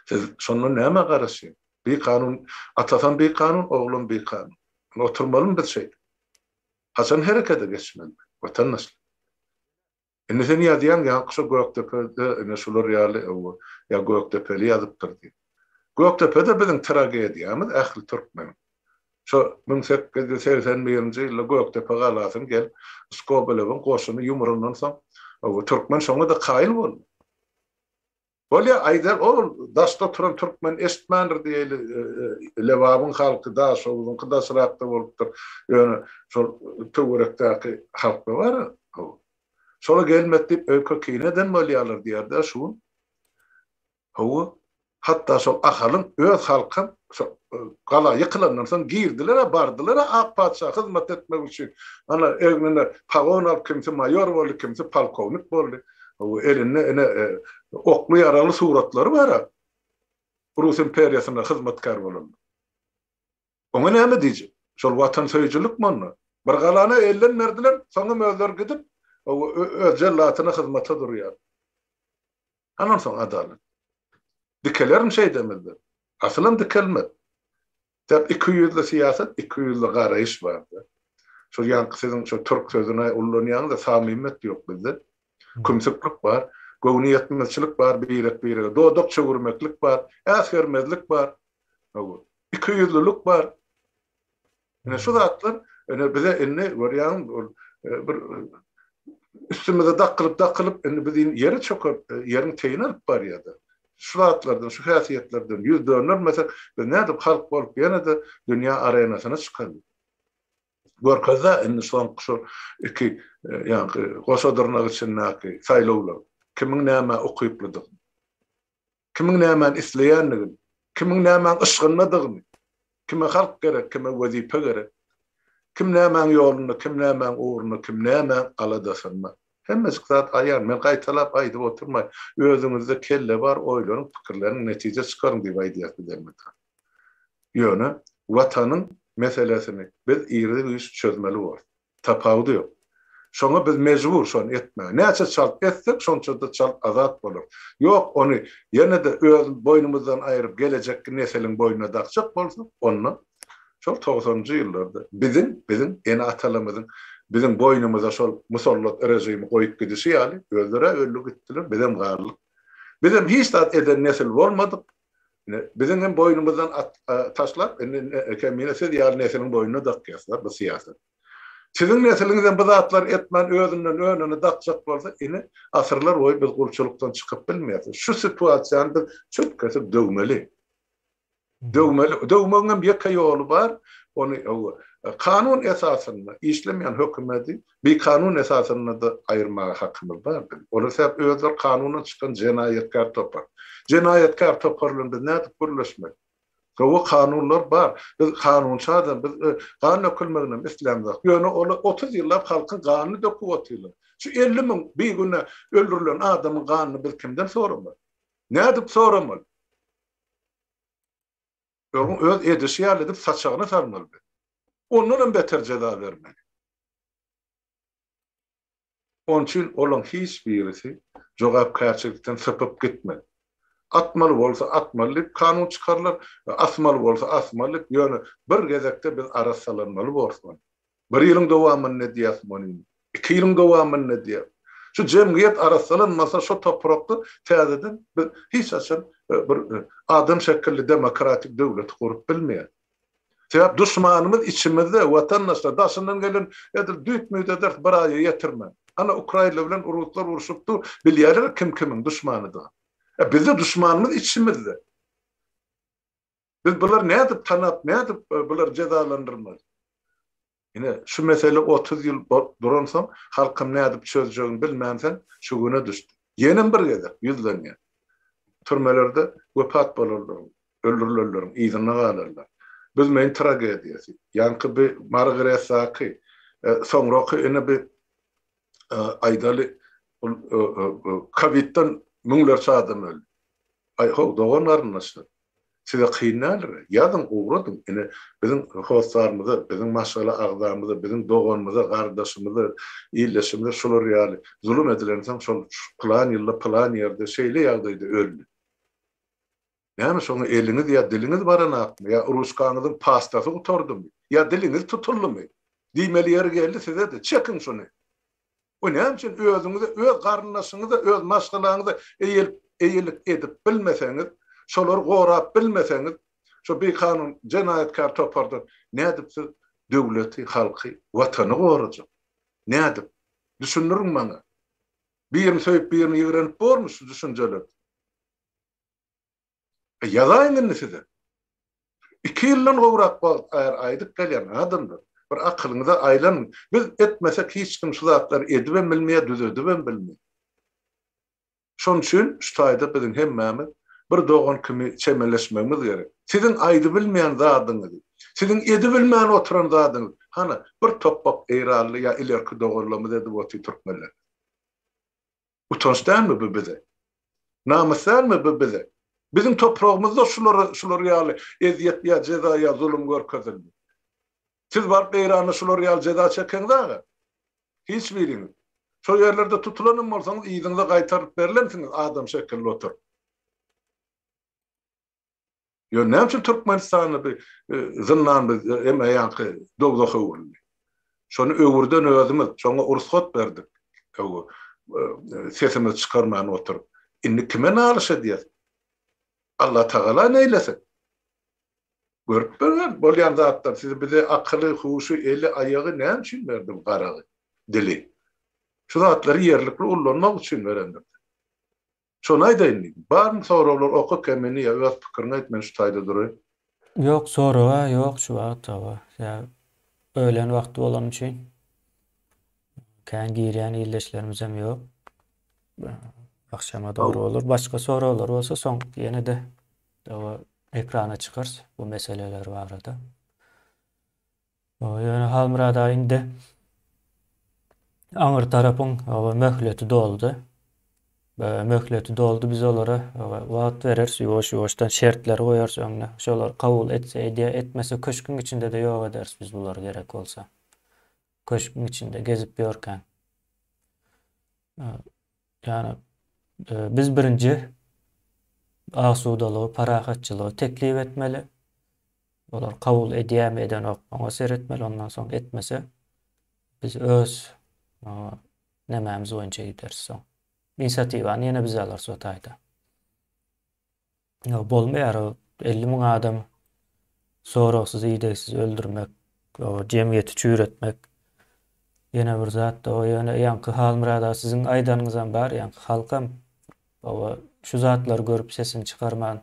Siz şonda nämä garaşýaň? Bikanun, atasam bikanun, oglam bikanun. Indi oturmalymy biz şeýdip? Haçan herekete geçmeli, watandaşlar? Indi sen ýazýaň ýaňky şo Gökdepede ine şular ýaly owo ýa Gökdepeli ýazypdyr diýip. Gökdepede biziň tragediýamyz ähli türkmeniň. Şo müň sekiz ýüz segsen birinji ýylda Gökdepe galasyny gelip Skobelewiň goşuny ýumrandan soň owo türkmen şoňa-da kaýyl boldy. Bolýa, aýdar, ol daşda oturan türkmen eşitmändir diýeli, Lebabyň halky daşoguzyňky daşrakda bolupdyr, ýöne şol töwerekdäki halkda bar, hawa. Şola gelmedi diýip öýke kine eden bolýarlar diýer-dä şu gün. Hawa, hatda şol Ahalyň öz halkam şo gala ýykylandan soň girdiler-ä, bardylar-a ak patyşa hyzmat etmek üçin. Ana egnine pagon alyp kimsi maýor boldy, kimsi polkownik boldy. Bu elinde ene okly ýaragly suratlary bar a. Rus imperiýasyna hyzmatkär bolan. Oňa näme diýjek? Şol watansöýüjilikmi onda? Bir galany elden berdiler, soňam özleri gidip öz jellatyna hyzmata durýar. Hanansoň adalat? Dikelerin şeýdemezler. Asylam dikelmez. Sebäbi ikiýüzli syýasat, ikiýüzli garaýyş barda. Şol ýaňky siziň şo türk sözüni ullanýaňyz-a, samimiýet ýok bizde. Kümsüklik bar, göwnüýetmezçilik bar birek-birege, dodak çöwürmeklik bar, äsgermezlik bar, hawa, ikiýüzlülik bar. Ine, şu zatlar ine bize indi görýäňmi, ol bir üstümize dakylyp-dakylyp, indi bizi ýere çökertdi, ýeriň teýini alyp barýar-da. Şu zatlardan, şu häsiýetlerden ýüz döndermesek, biz nädip halk bolup ýene-de dünýä arenasyna çykaly? Görkezd-ä indi soňky şu iki ýaňky goşa dyrnak içindäki saýlawlar kimiň nämä ukyplydygyny, kimiň nämäni isleýändigini, kimiň nämäň yşgyndadygyny. Kime halk gerek, kime wezipe gerek? Kim nämäň ýolunda, kim nämäň ugrunda, kim nämäň aladasynda? Hemmejik zat aýan, men gaýtalap aýdyp oturmaýyn. Özüňizde kelle bar, oýlanyň, pikirleniň, netije çykaryň diýip aýdýas biz elmydam. Ýöne Watanyň meselesini biz iri-güýç çözmeli bolduk. Tapawudy ýok. Şoňa biz mejbur şony etmäge. Näçe çalt etsek, şonça-da çalt azat bolarys. Ýok, ony ýene-de öz boýnumyzdan aýryp, gelejekki nesiliň boýnuna dakjak bolsak, onda şol togsanynjy ýyllarda biziň, biziň ene-atalarymyzyň biziň boýnumyza şol musallat režimi goýup gidişi ýaly, özleri-ä öldi gitdiler, bizem galdyk. Bizem hiç zat eden nesil bolmadyk. Indi biziň hem boýnumyzdan at taşlap, indi kemine siz ýaly nesliň boýnuna dakýarsylar bu syýasat. Siziň nesliňizem bu zatlary etmän özünden önüne dakjak bolsa, indi asyrlar boýy biz gulçulykdan çykyp bilmeýäs. Şu situasiýany biz çürt kesip döwmeli. Döwmeli. Döwmegiňem ýeke ýoly bar, ony kanun esasynda işlemeýän hökümedi Bi kanun esasynda-da aýyrmaga hakymyz bardy. Olar sebäp özleri kanundan çykan jenaýatkär topar. Jenaýatkär topar bilen biz nädip gürleşmeli? Gowy kanunlar bar. Biz kanunçadam, biz gan dökülmeginem islämzok. Ýöne olar otuz ýyllap halkyň ganyny döküp otyrlar. Şu elli müň bigünä öldürilen adamyň ganyny biz kimden soramaly? Nädip soramaly? Öň öz edişi ýaly edip saçagyny salmalydy. Ondanam beter jeza bermeli. Onuň üçin olaň hiç birisi jogapkärçilikden sypyp gitmez. Atmaly bolsa atmaly diýip kanun çykarylar we asmaly bolsa asmaly diýip ýöne bir gezekde biz arassalanmaly borsuň. Bir ýylyň dowamynda diýýäs muny. Iki ýylyň dowamynda diýýäs. Şu jemgyýet arassalanmasa şu toprakda täzeden biz hiç haçan bir adam şekilli demokratik döwleti gurup bilmeýäs. Sebäp duşmanymyz içimizde watandaşlar daşyndan gelen edil düýt müýt ederis bir aýa ýetirmän. Ana ukrainler bilen ruslar urşup dur bilýärler kim kimiň duşmanydygyny. Bizde duşmanymyz içimizde. Biz bulary nädip tanap, nädip bulary jezalandyrmaly? Ine, şu mesele otuz ýyl duransoň, halkym nädip çözjegini bilmänsoň, şu güne düşdi. Ýenem bir gezek ýüzlenýär. Türmelerde wepat bolanlaryň, öldürilenleriň yzynda galanlar. Büzmeýin tragediýasy. Ýaňky bi Margaret Zaki, soňraky ine bi aýdaly ol kowidden müňlerçe adam öldi. Aý how dogan garyndaşlar. Size kyn däldir. Ýazyň ugradyň. Ine biziň hossarymyza, biziň maşgala agzamyza, biziň doganymyza, gardaşymyza, ildeşimize şular ýaly zulum edilensoň şol pylan ýylda pylan ýerde şeýle ýagdaýda öldi. Näme şoňa eliňiz ýa diliňiz baranakmy, ýa ruçkaňyzyň pastasy gutardymy, ýa diliňiz tutuldymy? Diýmeli ýeri geldi size-de, çekiň şuny! We näme üçin özüňize, öz garyndaşyňyza, öz maşgalaňyza eýelip, eýelik edip bilmeseňiz, şolary gorap bilmeseňiz, şo bikanun, jenaýatkär topardan nädip siz döwleti, halky, watany gorajak? Nädip? Düşündiriň maňa! Birini söýüp, birini ýigrenip bormy şu düşünjeler? Ýazaýyn indi size. Iki ýyldan gowrak wagt bäri aýdyp gelýän adamlar, bir akylyňyza aýlanyň. Biz etmesek hiç kim şu zatlary edibem bilmeýär, düzedibem bilmeýär. Şonuň üçin şu taýda biziň hemmämiz bir dogan kimi çemeleşmegimiz gerek. Siziň aýdybilmeýän zadyňyzy, siziň edibilmän oturan zadyňyzy hana bir topbak eýranly ýa ilerki doganlarymyz edip otyr türkmenler. Utanç dälmi bu bize? Namys dälmi bu bize? Biziň topragymyzda şulara şular ýaly ezýet ýa jeza ýa zulum görkezildi. Siz baryp Eýranda şular ýaly jeza çekeňiz aga? Hiç biriňiz. Şo ýerlerde tutulanam bolsaňyz yzyňyza gaýtarylyp berlensiňiz adam şekilli oturyp. Ýöne näme üçin Türkmenistanda bir e, zyndan biz e, hem aýanky dowzah öwrüldi. Şony öwürden özümiz, şoňa ursat berdik. E, sesimizi çykarman oturyp, indi kime nalyş edýär? Allah Tagala neýlesin? Görüp bilen bolýan zatlar siz bize akyly, huşy, eli, aýagy näme üçin berdi bu garagy, dili? Şu zatlary ýerlikli ullanmak üçin berendir. Şony aýdaýyn diýdim. Barmy soraglar oka kemini ýa öz pikiriňi aýt men şu taýda duraýyn. Ýok
soraga ýok şu wagt hawa ýa ölen wagty bolany üçin kän girýän ildeşlerimizem ýok. Agşama dogry bolar. Başga soraglar bolsa soň ýene-de ekrana çykarys bu meseleler barada. Ýöne Halmyrada indi aňry tarapyň möhleti doldy. Möhleti doldy, biz olara wagt bereris, ýuwaş-ýuwaşdan şertleri goýarys öňüne. Şolar kabul etse edýär, etmese köşgüň içinde-de ýok ederis biz bulary gerek bolsa. Köşgüň içinde gezip ýörkäň. Ýagny, biz birinji asudalygy, parahatçylygy teklip etmeli. Olar kabul edýärmi, edenok, oňa seretmeli, ondan soň etmese, biz öz nemämiz boýunça gideris soň. Inisiatiwany ýene biz alarys o taýda. Ýok, bolmaýar o elli müň adamy soragsyz, idegsiz öldürmek, o jemgyýeti çüýretmek. Ýene bir zat-da o ýöne ýaňky Halmyrat aga siziň aýdanyňyzam bar, ýaňky halkam oba şu zatlary görüp sesini çykarman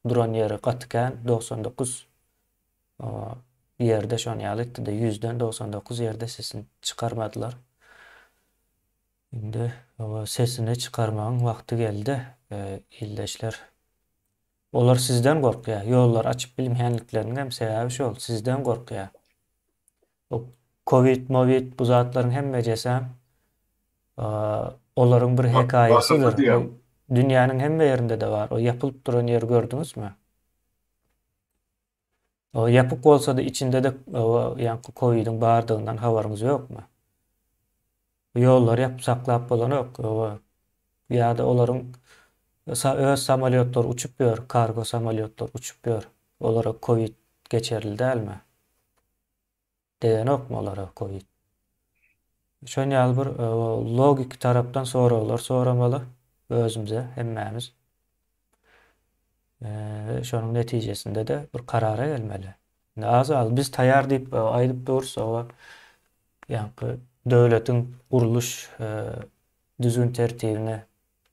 duran ýeri gaty kän, dogsan dokuz oba ýerde şony ýaly etdi-de, ýüzden dogsan dokuz ýerde sesini çykarmadylar. Indi oba sesini çykarmagyň wagty geldi ildeşler. Olar sizden gorkýa, ýollary açyp bilmänlikleriniňem sebäbi şol, sizden gorkýa. Bu kowid mowid bu zatlaryň hemmejesem olaryň bir hekaýasydyr. Dünýäniň
hemme
ýerinde-de bar. O ýapylyp duran ýeri gördüňizmi? O ýapyk bolsady içindede ýaňky kowidiň bardygyndan habaryňyz ýokmy? Ýollary ýapyp saklap bolanok ýa-da olaryň öz samolýotlary uçup ýör, kargo samolýotlary uçup ýör. Olara kowid geçerli dälmi? Degänokmy olara covid? Şon ýaly bir logiki tarapdan soraglar soramaly özümize hemmämiz. Eee şonuň netijesinde-de bir karara gelmeli. Indi az galdy. Biz taýýar diýip aýdyp durus, oba ýaňky döwletiň gurluş düzgün tertibine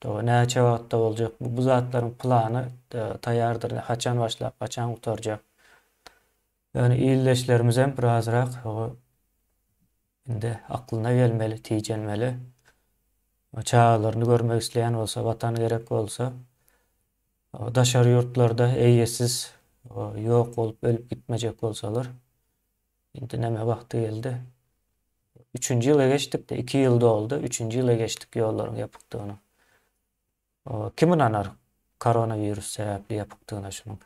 oba näçe wagtda boljak, bu zatlaryň plany taýýardyr, haçan başlap, haçan gutarjak. Ýöne ildeşlerimizem birazrak şo indi aklyna gelmeli, tijenmeli. Çagalaryny görmek isleýän bolsa, watan gerek bolsa, daşary ýurtlarda eýesiz ýok bolup ölüp gitmejek bolsalar, indi näme wagty geldi. Üçünji ýyla geçdik-de, iki ýyl doldy, üçünji ýyla geçdik ýollaryň ýapykdygyna. Kim ynanar koronawirus sebäpli ýapykdygyna şunuň?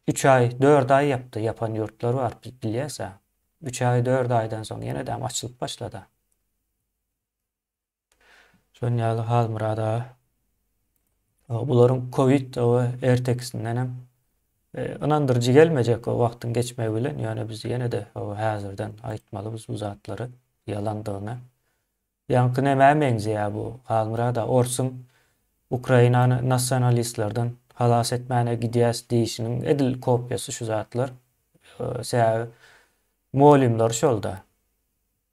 Üç aý, dört aý ýapdy, ýapan ýurtlary bar, biz bilýäs-ä. Üç aý, dört aýdan soň ýene-de açylyp başlady-a. Şonuň ýaly Halmyrat aga. Bularyň kowid we ertekisindenem ynandyryjy gelmejek o wagtyň geçmegi bilen, ýöne biz ýene-de häzirden aýtmalybys bu zatlary, ýalandygyny. Ýaňky nämä meňzeýä bu Halmyrada orsuň Ukrainany nasionalistlerden halas etmäne gidýäs diýişiniň edil kopýasy şu zatlar sebäbi mugallymlar şolda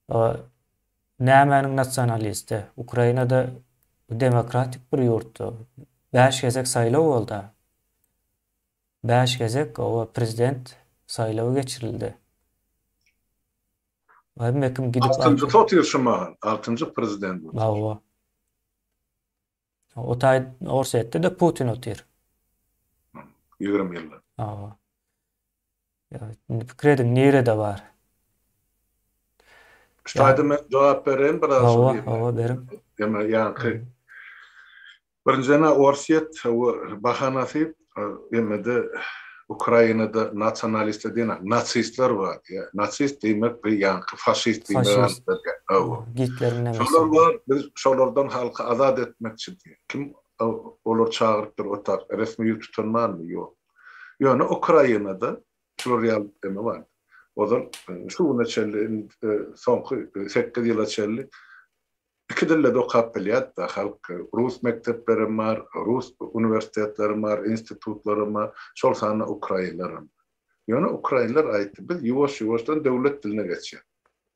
o nämäniň nasionalisti Ukrainada demokratik bir ýurtda bäş gezek saýlaw bolda bäş gezek oba prezident saýlawy geçirildi. Hemme kim gidip alşy. Altynjysy otyr şu mahal,
altynjy prezident
otyr. Hawa. O taý Orsetde-de Putin otyr.
Ýigrimi ýyllap. Hawa.
Ýa, indi pikir ediň, nirede bar?
Şu taýda men jogap bereýin biraz. Hawa, hawa, beriň.
Ýa, ýaňky.
Birinjiden Orsýet bahanasy emmede Ukrainada nasionalistler diýen nasistler bar. Nasist diýmek bu ýanky faşist diýmek.
Şolar bar biz
şolardan halky azat etmekçi diýen. Kim olar çagyrypdyr otak resmi ýüz tutan barmy ýok. Ýöne Ukrainada şular ýaly emme bar. Ozal şu güne çenli soňky sekiz ýyla çenli Iki dilde-de okap bilýäris-dä, halk. Rus mekdeplerem bar, rus uniwersitetlerem bar, institutlaram bar, şol sanda ukrainlerem. Ýöne ukrainler aýtdy, biz ýuwaş-ýuwaşdan döwlet diline geçýäs.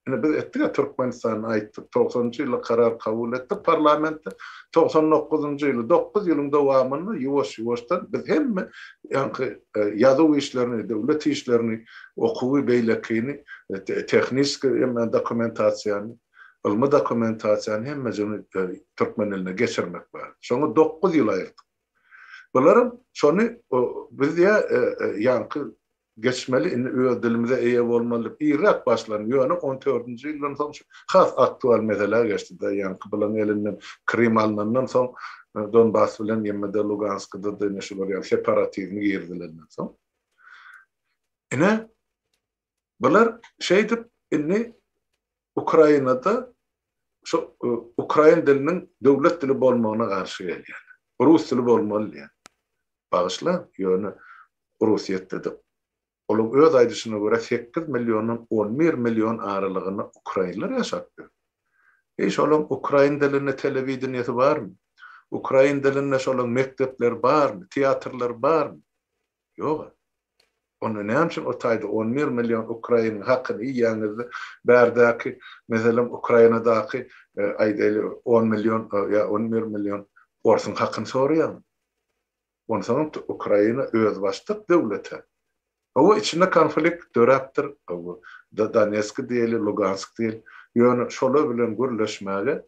Ine, biz etdik-ä Türkmenistanda aýtdyk, togsanynjy ýylda karar kabul etdik parlamentde, togsan dokuzynjy ýyly, dokuz ýylyň dowamynda ýuwaş-ýuwaşdan biz hemme ýaňky ýazuw işlerini, döwlet işlerini, okuwy, beýlekini, tehniski hemme dokumentasiýany, Ylmy dokumentasiýany hemmejini türkmen diline geçirmek bar. Şoňa dokuz ýyl aýyrdyk. Bularam şony biz ýa ýaňky geçmeli, indi öz dilimize eýe bolmaly diýip irräk başlandy. Ýöne on dördünji ýyldan soň şu has aktual meselä geçdi-de, ýaňky bularyň elinden Krym alnandan soň, Donbas bilen ýmd Luganskda-da ine şular ýaly separatizmi girizilenden soň. Ine, Bular şeýdip indi Ukrainada şu ukrain diliniň döwlet dili bolmagyna garşy gelýärler. Rus dili bolmaly diýýär. Bagyşlaň, ýöne Orsýetde-de olaň öz aýdyşyna görä sekiz milliondan on bir million aralygynda ukrainler ýaşap ýör. Eý şolaň ukrain dilinde telewideniýesi barmy? Ukrain dilinde şolaň mekdepleri barmy, teatrlary barmy? Ýog-a. Onda näme üçin o taýda on bir million ukrainyň hakyny iýýäňiz-de, bärdäki, meselem, Ukrainadaky, aýdaýly, on million ýa on bir million orsuň hakyny soraýaňyz? Onsoňam Ukraina özbaşdak döwlet-ä. Hawa, içinde konflikt döräpdir, Donetski diýeli, Lugansk diýeli, ýöne şolar bilen gürleşmäge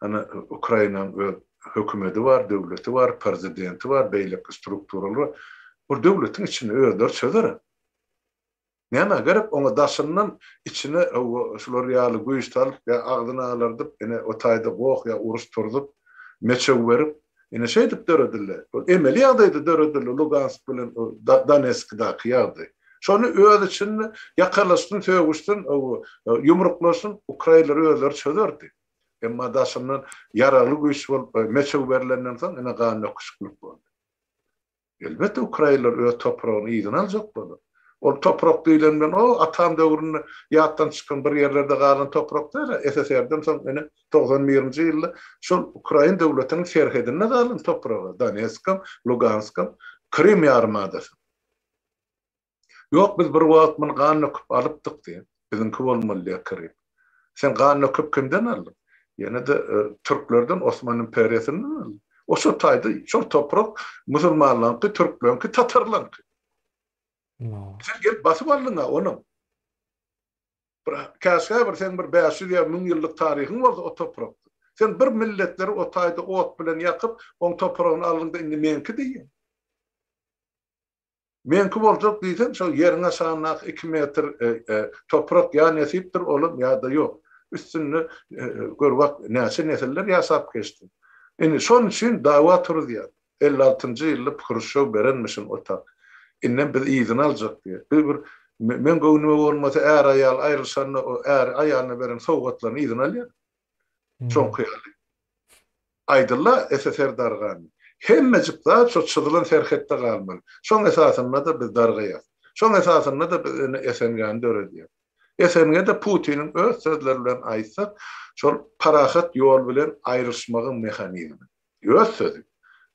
Ana, Ukrainanyň öz hökümeti bar, döwleti bar, prezidenti bar, beýleki strukturalary bar. Ol döwletiň içinde özleri çözer. Nämä gerek oňa daşyndan içine hawa, şular ýaly güýç salyp ýa agzyny alardyp, ine, o taýda goh ýa uruş turzup, meçew berip, Ine şeýdip döredildi. Ol emeli ýagdaýda döredildi Lugansk bilen Donetskdaky ýagdaý. Şony öz içinde ýakalaşsyn, sögüşsin, ýumruklaşsyn, ukrainler özleri çözerdi. Emma daşyndan ýaragly güýç bolup meçew berlenden soň ine gan döküşiklik boldy. Elbetde ukrainler öz topragyny yzyna aljak bolar. Ol toprak diýlen bilen o atam döwründe ýatdan çykan bir ýerlerde galan toprak däl-ä, SSR-den soň ine togsan birinji ýylda şol ukrain döwletiniň serhedinde galan topragy, Donetskam, Luganskam, Krym ýarymadasy. Ýok, biz bir wagt muny gan döküp alypdyk diýip, biziňki bolmaly diýip kiryp. Sen gan döküp kimden aldyň? Ýene-de türklerden, Osman imperiýasyndan aldym. O şo taýda, şol toprak musulmanlaryňky, türkleriňki, tatarlaryňky. Sen gelip basyp aldyň-a ony. Bir käşgä bir seň bir bäş ýüz ýa müň ýyllyk taryhyň bolsa o toprakda. Sen bir milletleri o taýda ot bilen ýakyp, oň topragyny aldyň-da indi meňki diýýäň. Meňki boljak diýseň, şo ýeriň aşagyndaky iki metr toprak ýa nesipdir olam, ýa-da ýok. Üstünde gör wah, näçe nesiller ýaşap geçdi. Indi şonuň üçin dawa turuzýar. Elli altynjy ýylda Hruşşow berenmişin o tak. Indem biz yzyny aljak diýýär. Biz bir Meň göwnüme bolmasa, är-aýal aýrylyşanda o äri aýalyna beren sowgatlaryny yzyna alýar. Soňky ýaly. Aýdylla SSR dargandy. Hemmejik zat şo çyzylan serhetde galmaly. Şoň esasynda-da biz dargaýas. Şoň esasynda-da biz indi SNG-ni döredýäs. SNG-de Putiniň öz sözleri bilen aýtsak, şol parahat ýol bilen aýrylyşmagyň mehanizmi. Öz sözi.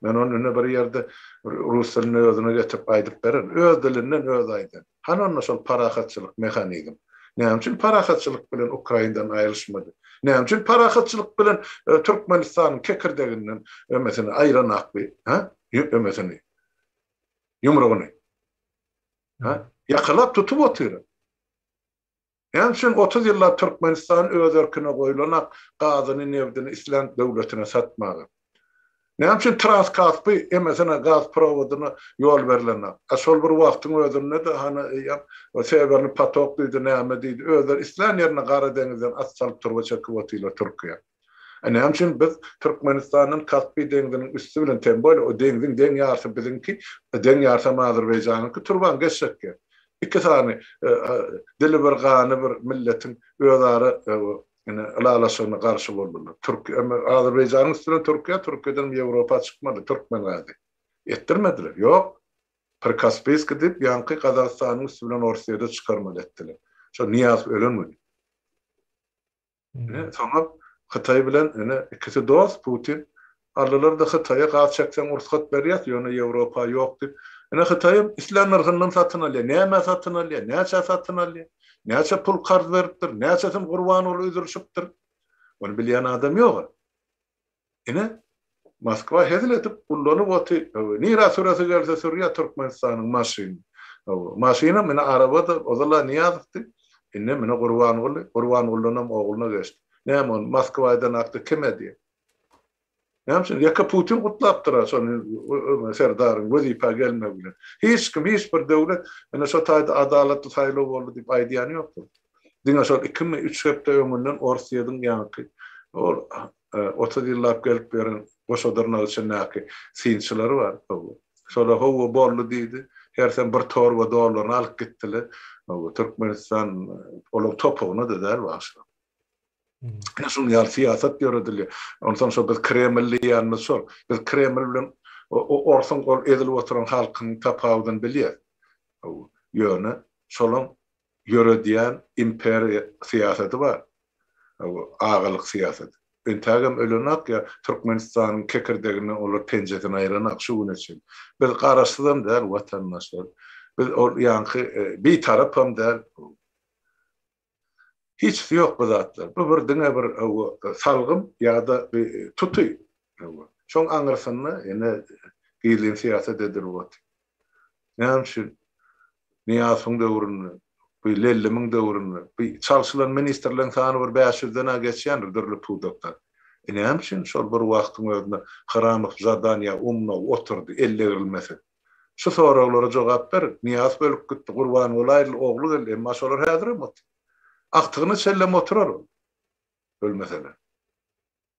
Men ony indi bir ýerde rus dilinde özüne getirip aýdyp beren. Öz dilinden özi aýdan. Hany onda şol parahatçylyk mehanizm? Näme üçin parahatçylyk bilen Ukraindan aýrylyşmady? Näme üçin parahatçylyk bilen Türkmenistanyň kekirdeginden ömesini aýran akby, hä? Ömesini. Ýumrugyny. Hä? Ýakalap tutup otyr. Ýaňy üçin otuz ýyllap Türkmenistan öz erkine goýlanak gazyny, nebdini islän döwletine satmaga. Näme üçin Transkaspy emesine gaz prowodyna ýol berlenok. A şol bir wagtyň özünde-de hany eýýäm Sewerny patok diýdi, näme diýdi, özleri islän ýerine Gara deňizden at salyp turba çekip otyrlar Türkiýe. A näme üçin biz Türkmenistandan Kaspi deňziniň üsti bilen teň boýly, o deňziň deň ýarsy biziňki, deň ýarsam Azerbaýjanyňky turban geçjekge? Iki sany dili bir gany bir milletiň özara ine ylalaşygyna garşy boldular. Türki em Azerbaýjanyň üsti bilen Türkiýe, Türkiýedenem Ýewropa çykmady türkmen gazy. Etdirmediler. Ýok. Prikaspiýskiý diýip ýaňky Gazagystanyň üsti bilen Orsyýede çykarmaly etdiler. Şo Nyýazow ölen güni. Ine, soňam Hytaý bilen, ine, ikisi dost, Putin, aldylar-da Hytaýa gaz çekseň ursgat berýäs, ýöne Ýewropa ýok diýip. Ine, Hytaýam islän nyrhyndan satyn alýar. Nämä satyn alýar? Näçä satyn alýar? Näçe pul karz beripdir? Näçesini Gurbangula üzülişipdir? Ony bilýän adam ýog-a. Ine, Moskwa hezil edip gullanyp oty, hawa, nirä süresi gelse sürýä Türkmenistanyň maşynyny. Hawa, maşynam ine araba-da, ozal-a Nyýazowdy, indem ine Gurbanguly, Gurbangulydanam ogluna geçdi. Näme ony Moskwa eden hakda kim edýä? Näme üçin? Ýeke Putin gutlapdyr-a şony öňe serdaryň wezipä gelmegi bilen. Hiç kim, hiç bir döwlet ine şo taýda adalatly saýlaw boldy diýip aýdýany ýokdur. Diňe şol ikimi, üç hepde öňünden Orsýediň ýaňky ol otuz ýyllap gelip ýören goşa dyrnak içindäki synçylary bar. Şolar hawa boldy diýdi. Hersem bir torba dollaryny alyp gitdiler. Türkmenistan olaryň topugyna-da däl wagşy. Ine şunuň ýaly syýasat ýöredilýär. Onsoň şo biz Kreml diýýänimiz şol. Biz Kreml bilen orsuň ol ezilip oturan halkynyň tapawudyny bilýäs. Ýöne şolaň ýöredýän imperiýa syýasaty bar, agalyk syýasaty. Entägem ölenak ýa Türkmenistanyň kekirdeginden olar penjesini aýranak şu güne çenli. Biz garaşsyzam däl watandaşlar. Biz ol ýaňky bitarapam däl. Hiçsi ýok bu zatlar. Bu bir diňe bir salgym ýa-da bir tuty. Şoň aňyrsynda ene gizlin syýasat edilip otyr. Näme üçin Nyýazowyň döwründe, bu Lellimiň döwründe, bu çalşylan ministrleriň sany bir bäş ýüzden-ä geçýändir dürli pudakdan. E näme üçin şol bir wagtyň özünde Haramow zadaniýa umnow oturdy, ellegrilmese? Şu soraglara jogap beriň. Nyýazow ölüp gitdi, Gurbangul aýryldy, ogly geldi, emma şolar häzirem otyr. Agtygyna çellem oturar ol, ölmeseler.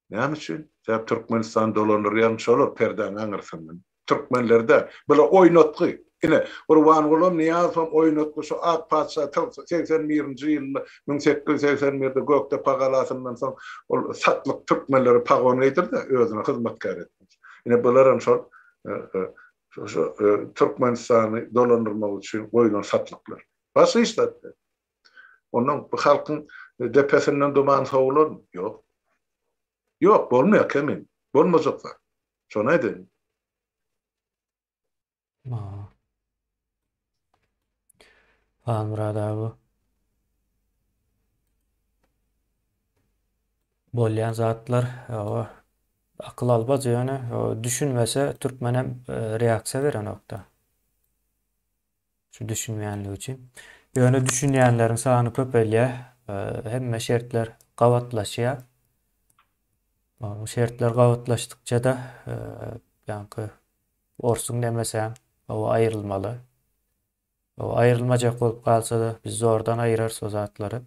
Näme üçin? Sebäp Türkmenistany dolandyrýan şolar perdäň aňyrsyndan. Türkmenler däl. Bular oýnatgy. Ine, Gurbangulam Nyýazowam oýnatgy şu ak patyşa segsen birinji ýylda müň sekiz ýüz segsen birde Gökdepe galasyndan soň ol satlyk türkmenlere pagon geýdirdi, özüne hyzmatkär etmek üçin. Ine, bularam şol şu Türkmenistany dolandyrmak üçin goýlan satlyklar. Başga hiç zat däl. Ondan bu halkyň depesinden duman sowularmy? Ýok. Ýok, bolmaýar Kemin. Bolmajak zat. Şony aýdaýyn.
Haa. Halmyrat aga. Bolýan zatlar, hawa. Akyl almaz ýöne, düşünmese türkmen hem reaksiýa berenok-da. Şu düşünmeýänlik üçin. Ýöne düşünýänleriň sany köpelýär. Hemme şertler gabatlaşýar. Bu şertler gabatlaşdykça-da ýaňky orsuň demese o aýrylmaly. O aýrylmajak bolup galsa-da biz zordan aýyrarys o zatlary.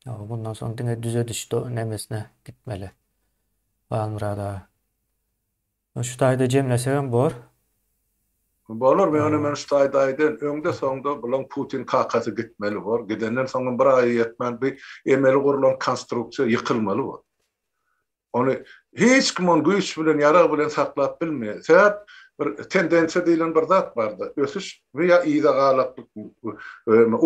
O bundan soň diňe düzediş nemesine gitmeli. Halmyrad aga. Şu taýda jemlesegem bor.
Bolar ýöne men şu taýda aýdaýyn öňde soňda bulaň putin kakasy gitmeli bor gidenden soňam bir aýa ýetmän bi emeli gurlan konstruksiýa ýykylmaly bor ony hiç kim ony güýç bilen ýarag bilen saklap bilmeýär sebäp bir tendensiýa diýlen bir zat barda ösüş We ýa yza galaklyk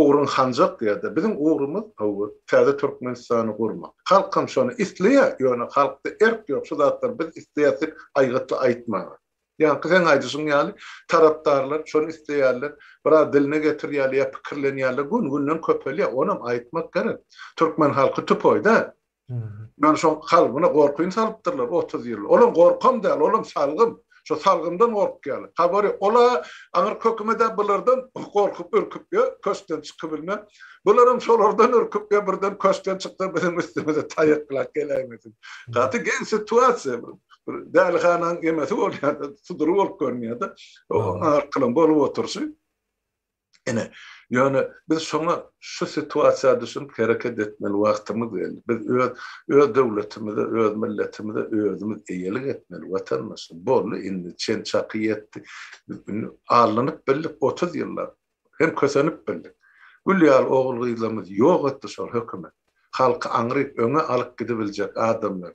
ugruň hanjak ýa-da biziň ugrumyz hawa täze Türkmenistany gurmak. Halkam şony isleýär, ýöne halkda erk ýok şu zatlary biz isleýäs diýip aýgytly aýtmaga. Ýaňky seň aýdyşyň ýaly tarapdarlar şony isleýärler, biraz diline getirýärler ýa pikirlenýärler gün-günden köpelýär, onam aýtmak gerek. Türkmen halky tupoý däl. Ýöne şoň kalbyna gorkyny salypdyrlar otuz ýyl. Olam gorkam däl, olam salgym. Şo salgymdan gorkýarlar. Habary ol-a, aňyr köküme-de bulardan gorkup, ürküp, ýö, köşkden çykybilme. Bularam şolardan ürküp, ýö, birden köşkden çyksa biziň üstümize taýaklap geläýmesin. Gaty geň situasiýa bu. Bir dälihananyň emesi bolýar-da, sudury bolup görünýär-de. Oň arkalam bolup oturyşy. Ine, ýöne biz şoňa şu situasiýa düşünip hereket etmeli wagtymyz geldi. Biz öz öz döwletimize, öz milletimize özümiz eýelik etmeli watandaşlar. Boldy indi çen çaky ýetdi. Biz indi allanyp bildik otuz ýyllap. Hem kösenip bildik. Gül ýaly ogul-gyzlarymyzy ýok etdi şol hökümet. Halky aňryp öňe alyp gidibiljek adamlar.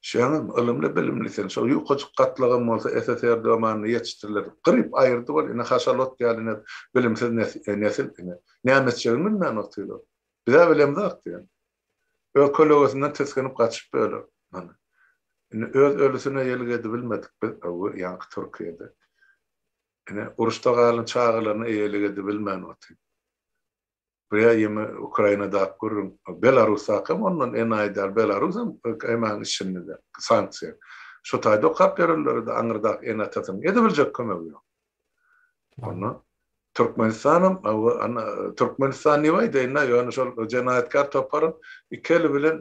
Şeňňim ylymly bilimli sen şo ýukajyk gatlagam bolsa SSR domanyny ýetişdirler gyryp aýyrdy bol ine haşalot ýaly ine bilimsiz nesil ine näme etjegini bilmän otylar bizä bilemzok diýen öz kölegesinden tisginip gaçyp bölek mana ine öz ölüsine ýelik edibilmedik biz öwür ýaňky türkiýede ine uruşda galan çagalaryna eýelik edibilmän otyr. Bu ýa ýene Ukrainadap gürrüň. Belarusdaky hem ondan enaýy däl. Belarus hem KM-iň içinde sanksiýa. Şu taýda okap ýörenlere-de aňyrdaky ene-atasynyň edebiljek kömegi ýok. Onda Türkmenistan hem Türkmenistan diýip aýdaýyn-da, ýöne şol jenaýatkär topar iki eli bilen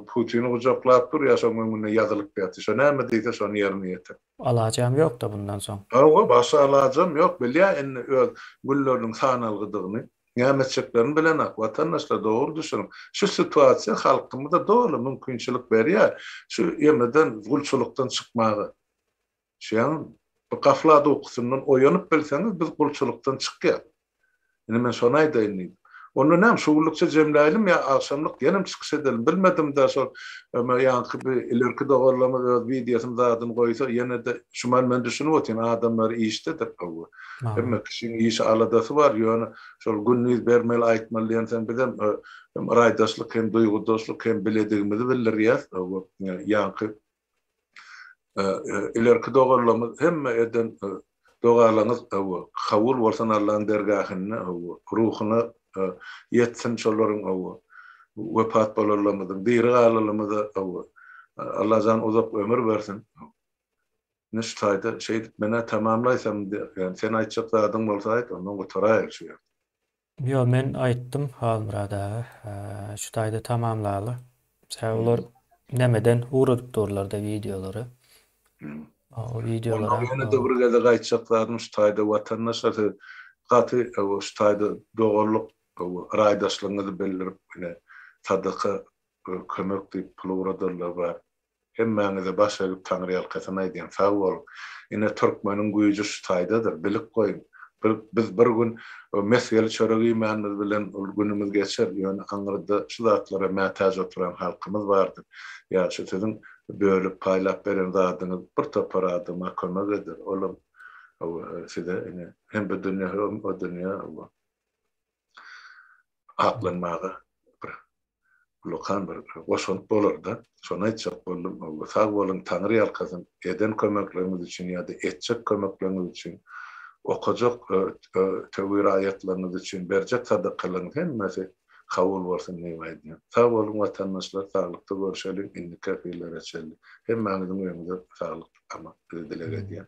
Putini gujaklap dur, ýa şoň öňünde ýazylyp ýatyr. Şo näme diýse, şony ýerine ýetir. Alajam ýokda
bundan soň. Hawa, başga alajam
ýok. Bilýä indi öz günleriniň sanalgydygyny. Näme etjeklerini bilenok. Watandaşlar dogry düşüniň. Şu situasiýa halkymyza doly mümkinçilik berýär şu ýemeden, gulçulykdan çykmaga. Düşýäňizmi? Bir gaflat ukusyndan oýanyp bilseňiz biz gulçulykdan çykýas. Indi men şony aýdaýyn diýdim. Onda näme, şu günlükçe jemläýelim ýa agşamlyk ýenem çykyş edelim, bilmedim-dä, şol ýaňky bi ilerki doganlarymyz öz wideosyny zadyny goýsa, ýene-de şuman men düşünip otyryn, adamlar işdedir, hawa, hemme kişiň işi, aladasy bar, ýöne şol gündiz bermeli, aýtmaly diýensoň, bizem hem raýdaşlyk, hem duýgudaşlyk, hem biledigimizi bildirýäs, hawa, ýaňky Ilerki dogalarymyz hemme eden dogalaňyz kabul bolsun Allaň dergahynda ruhyna ýetsin şolaryň wepat bolanlarymyzyň diri galanlarymyza Allajan uzak ömür bersin Nüşt haýda şeýdip menä tamamlaýsam indi ýani sen aýtjak zadyň bolsa aýt ondan gutaraýaly şu ýerde. Ýok
men aýtdym Halmyrat aga şu taýda tamamlaly. Sebäbi olar nämeden ugradyp durlarda wideolary. O wideolara.
Ýene-de bir gezek
aýtjak
zadym şu taýda watandaşlar siz gaty şu taýda doganlyk raýdaşlygyňyzy bildirip ine sadaka kömek diýip pul ugradanlar bar. Hemmäňize baş egip taňryýalkasyn aýdýan sag boluň. Ine türkmeniň güýji şu taýdadyr. Bilip goýuň. Bir biz bir gün mesgeli çörek iýmänimiz bilen ol günümiz geçer. Ýöne aňyrda şu zatlara mätäç oturan halkymyz bardyr. Ýa şu siziň bölüp paýlap beren zadyňyz bir topar adama kömek eder. Olam hawa size ine hem bu dünýe hem o dünýe hawa. aklanmaga bir ullakan bir goşant bolar-da. Şony aýtjak boldum. Sag boluň, Taňry ýalkasyn, eden kömekleriňiz üçin ýa-da etjek kömekleriňiz üçin, okajak töwir aýatlaryňyz üçin berjek sadakalaryňyz hemmesi kabul bolsun diýip aýdýan. Sag boluň watandaşlar, saglykda görüşeliň, indiki efirlere çenli. Hemmäňiziň öýüňize saglyk, aman, dileg edýän.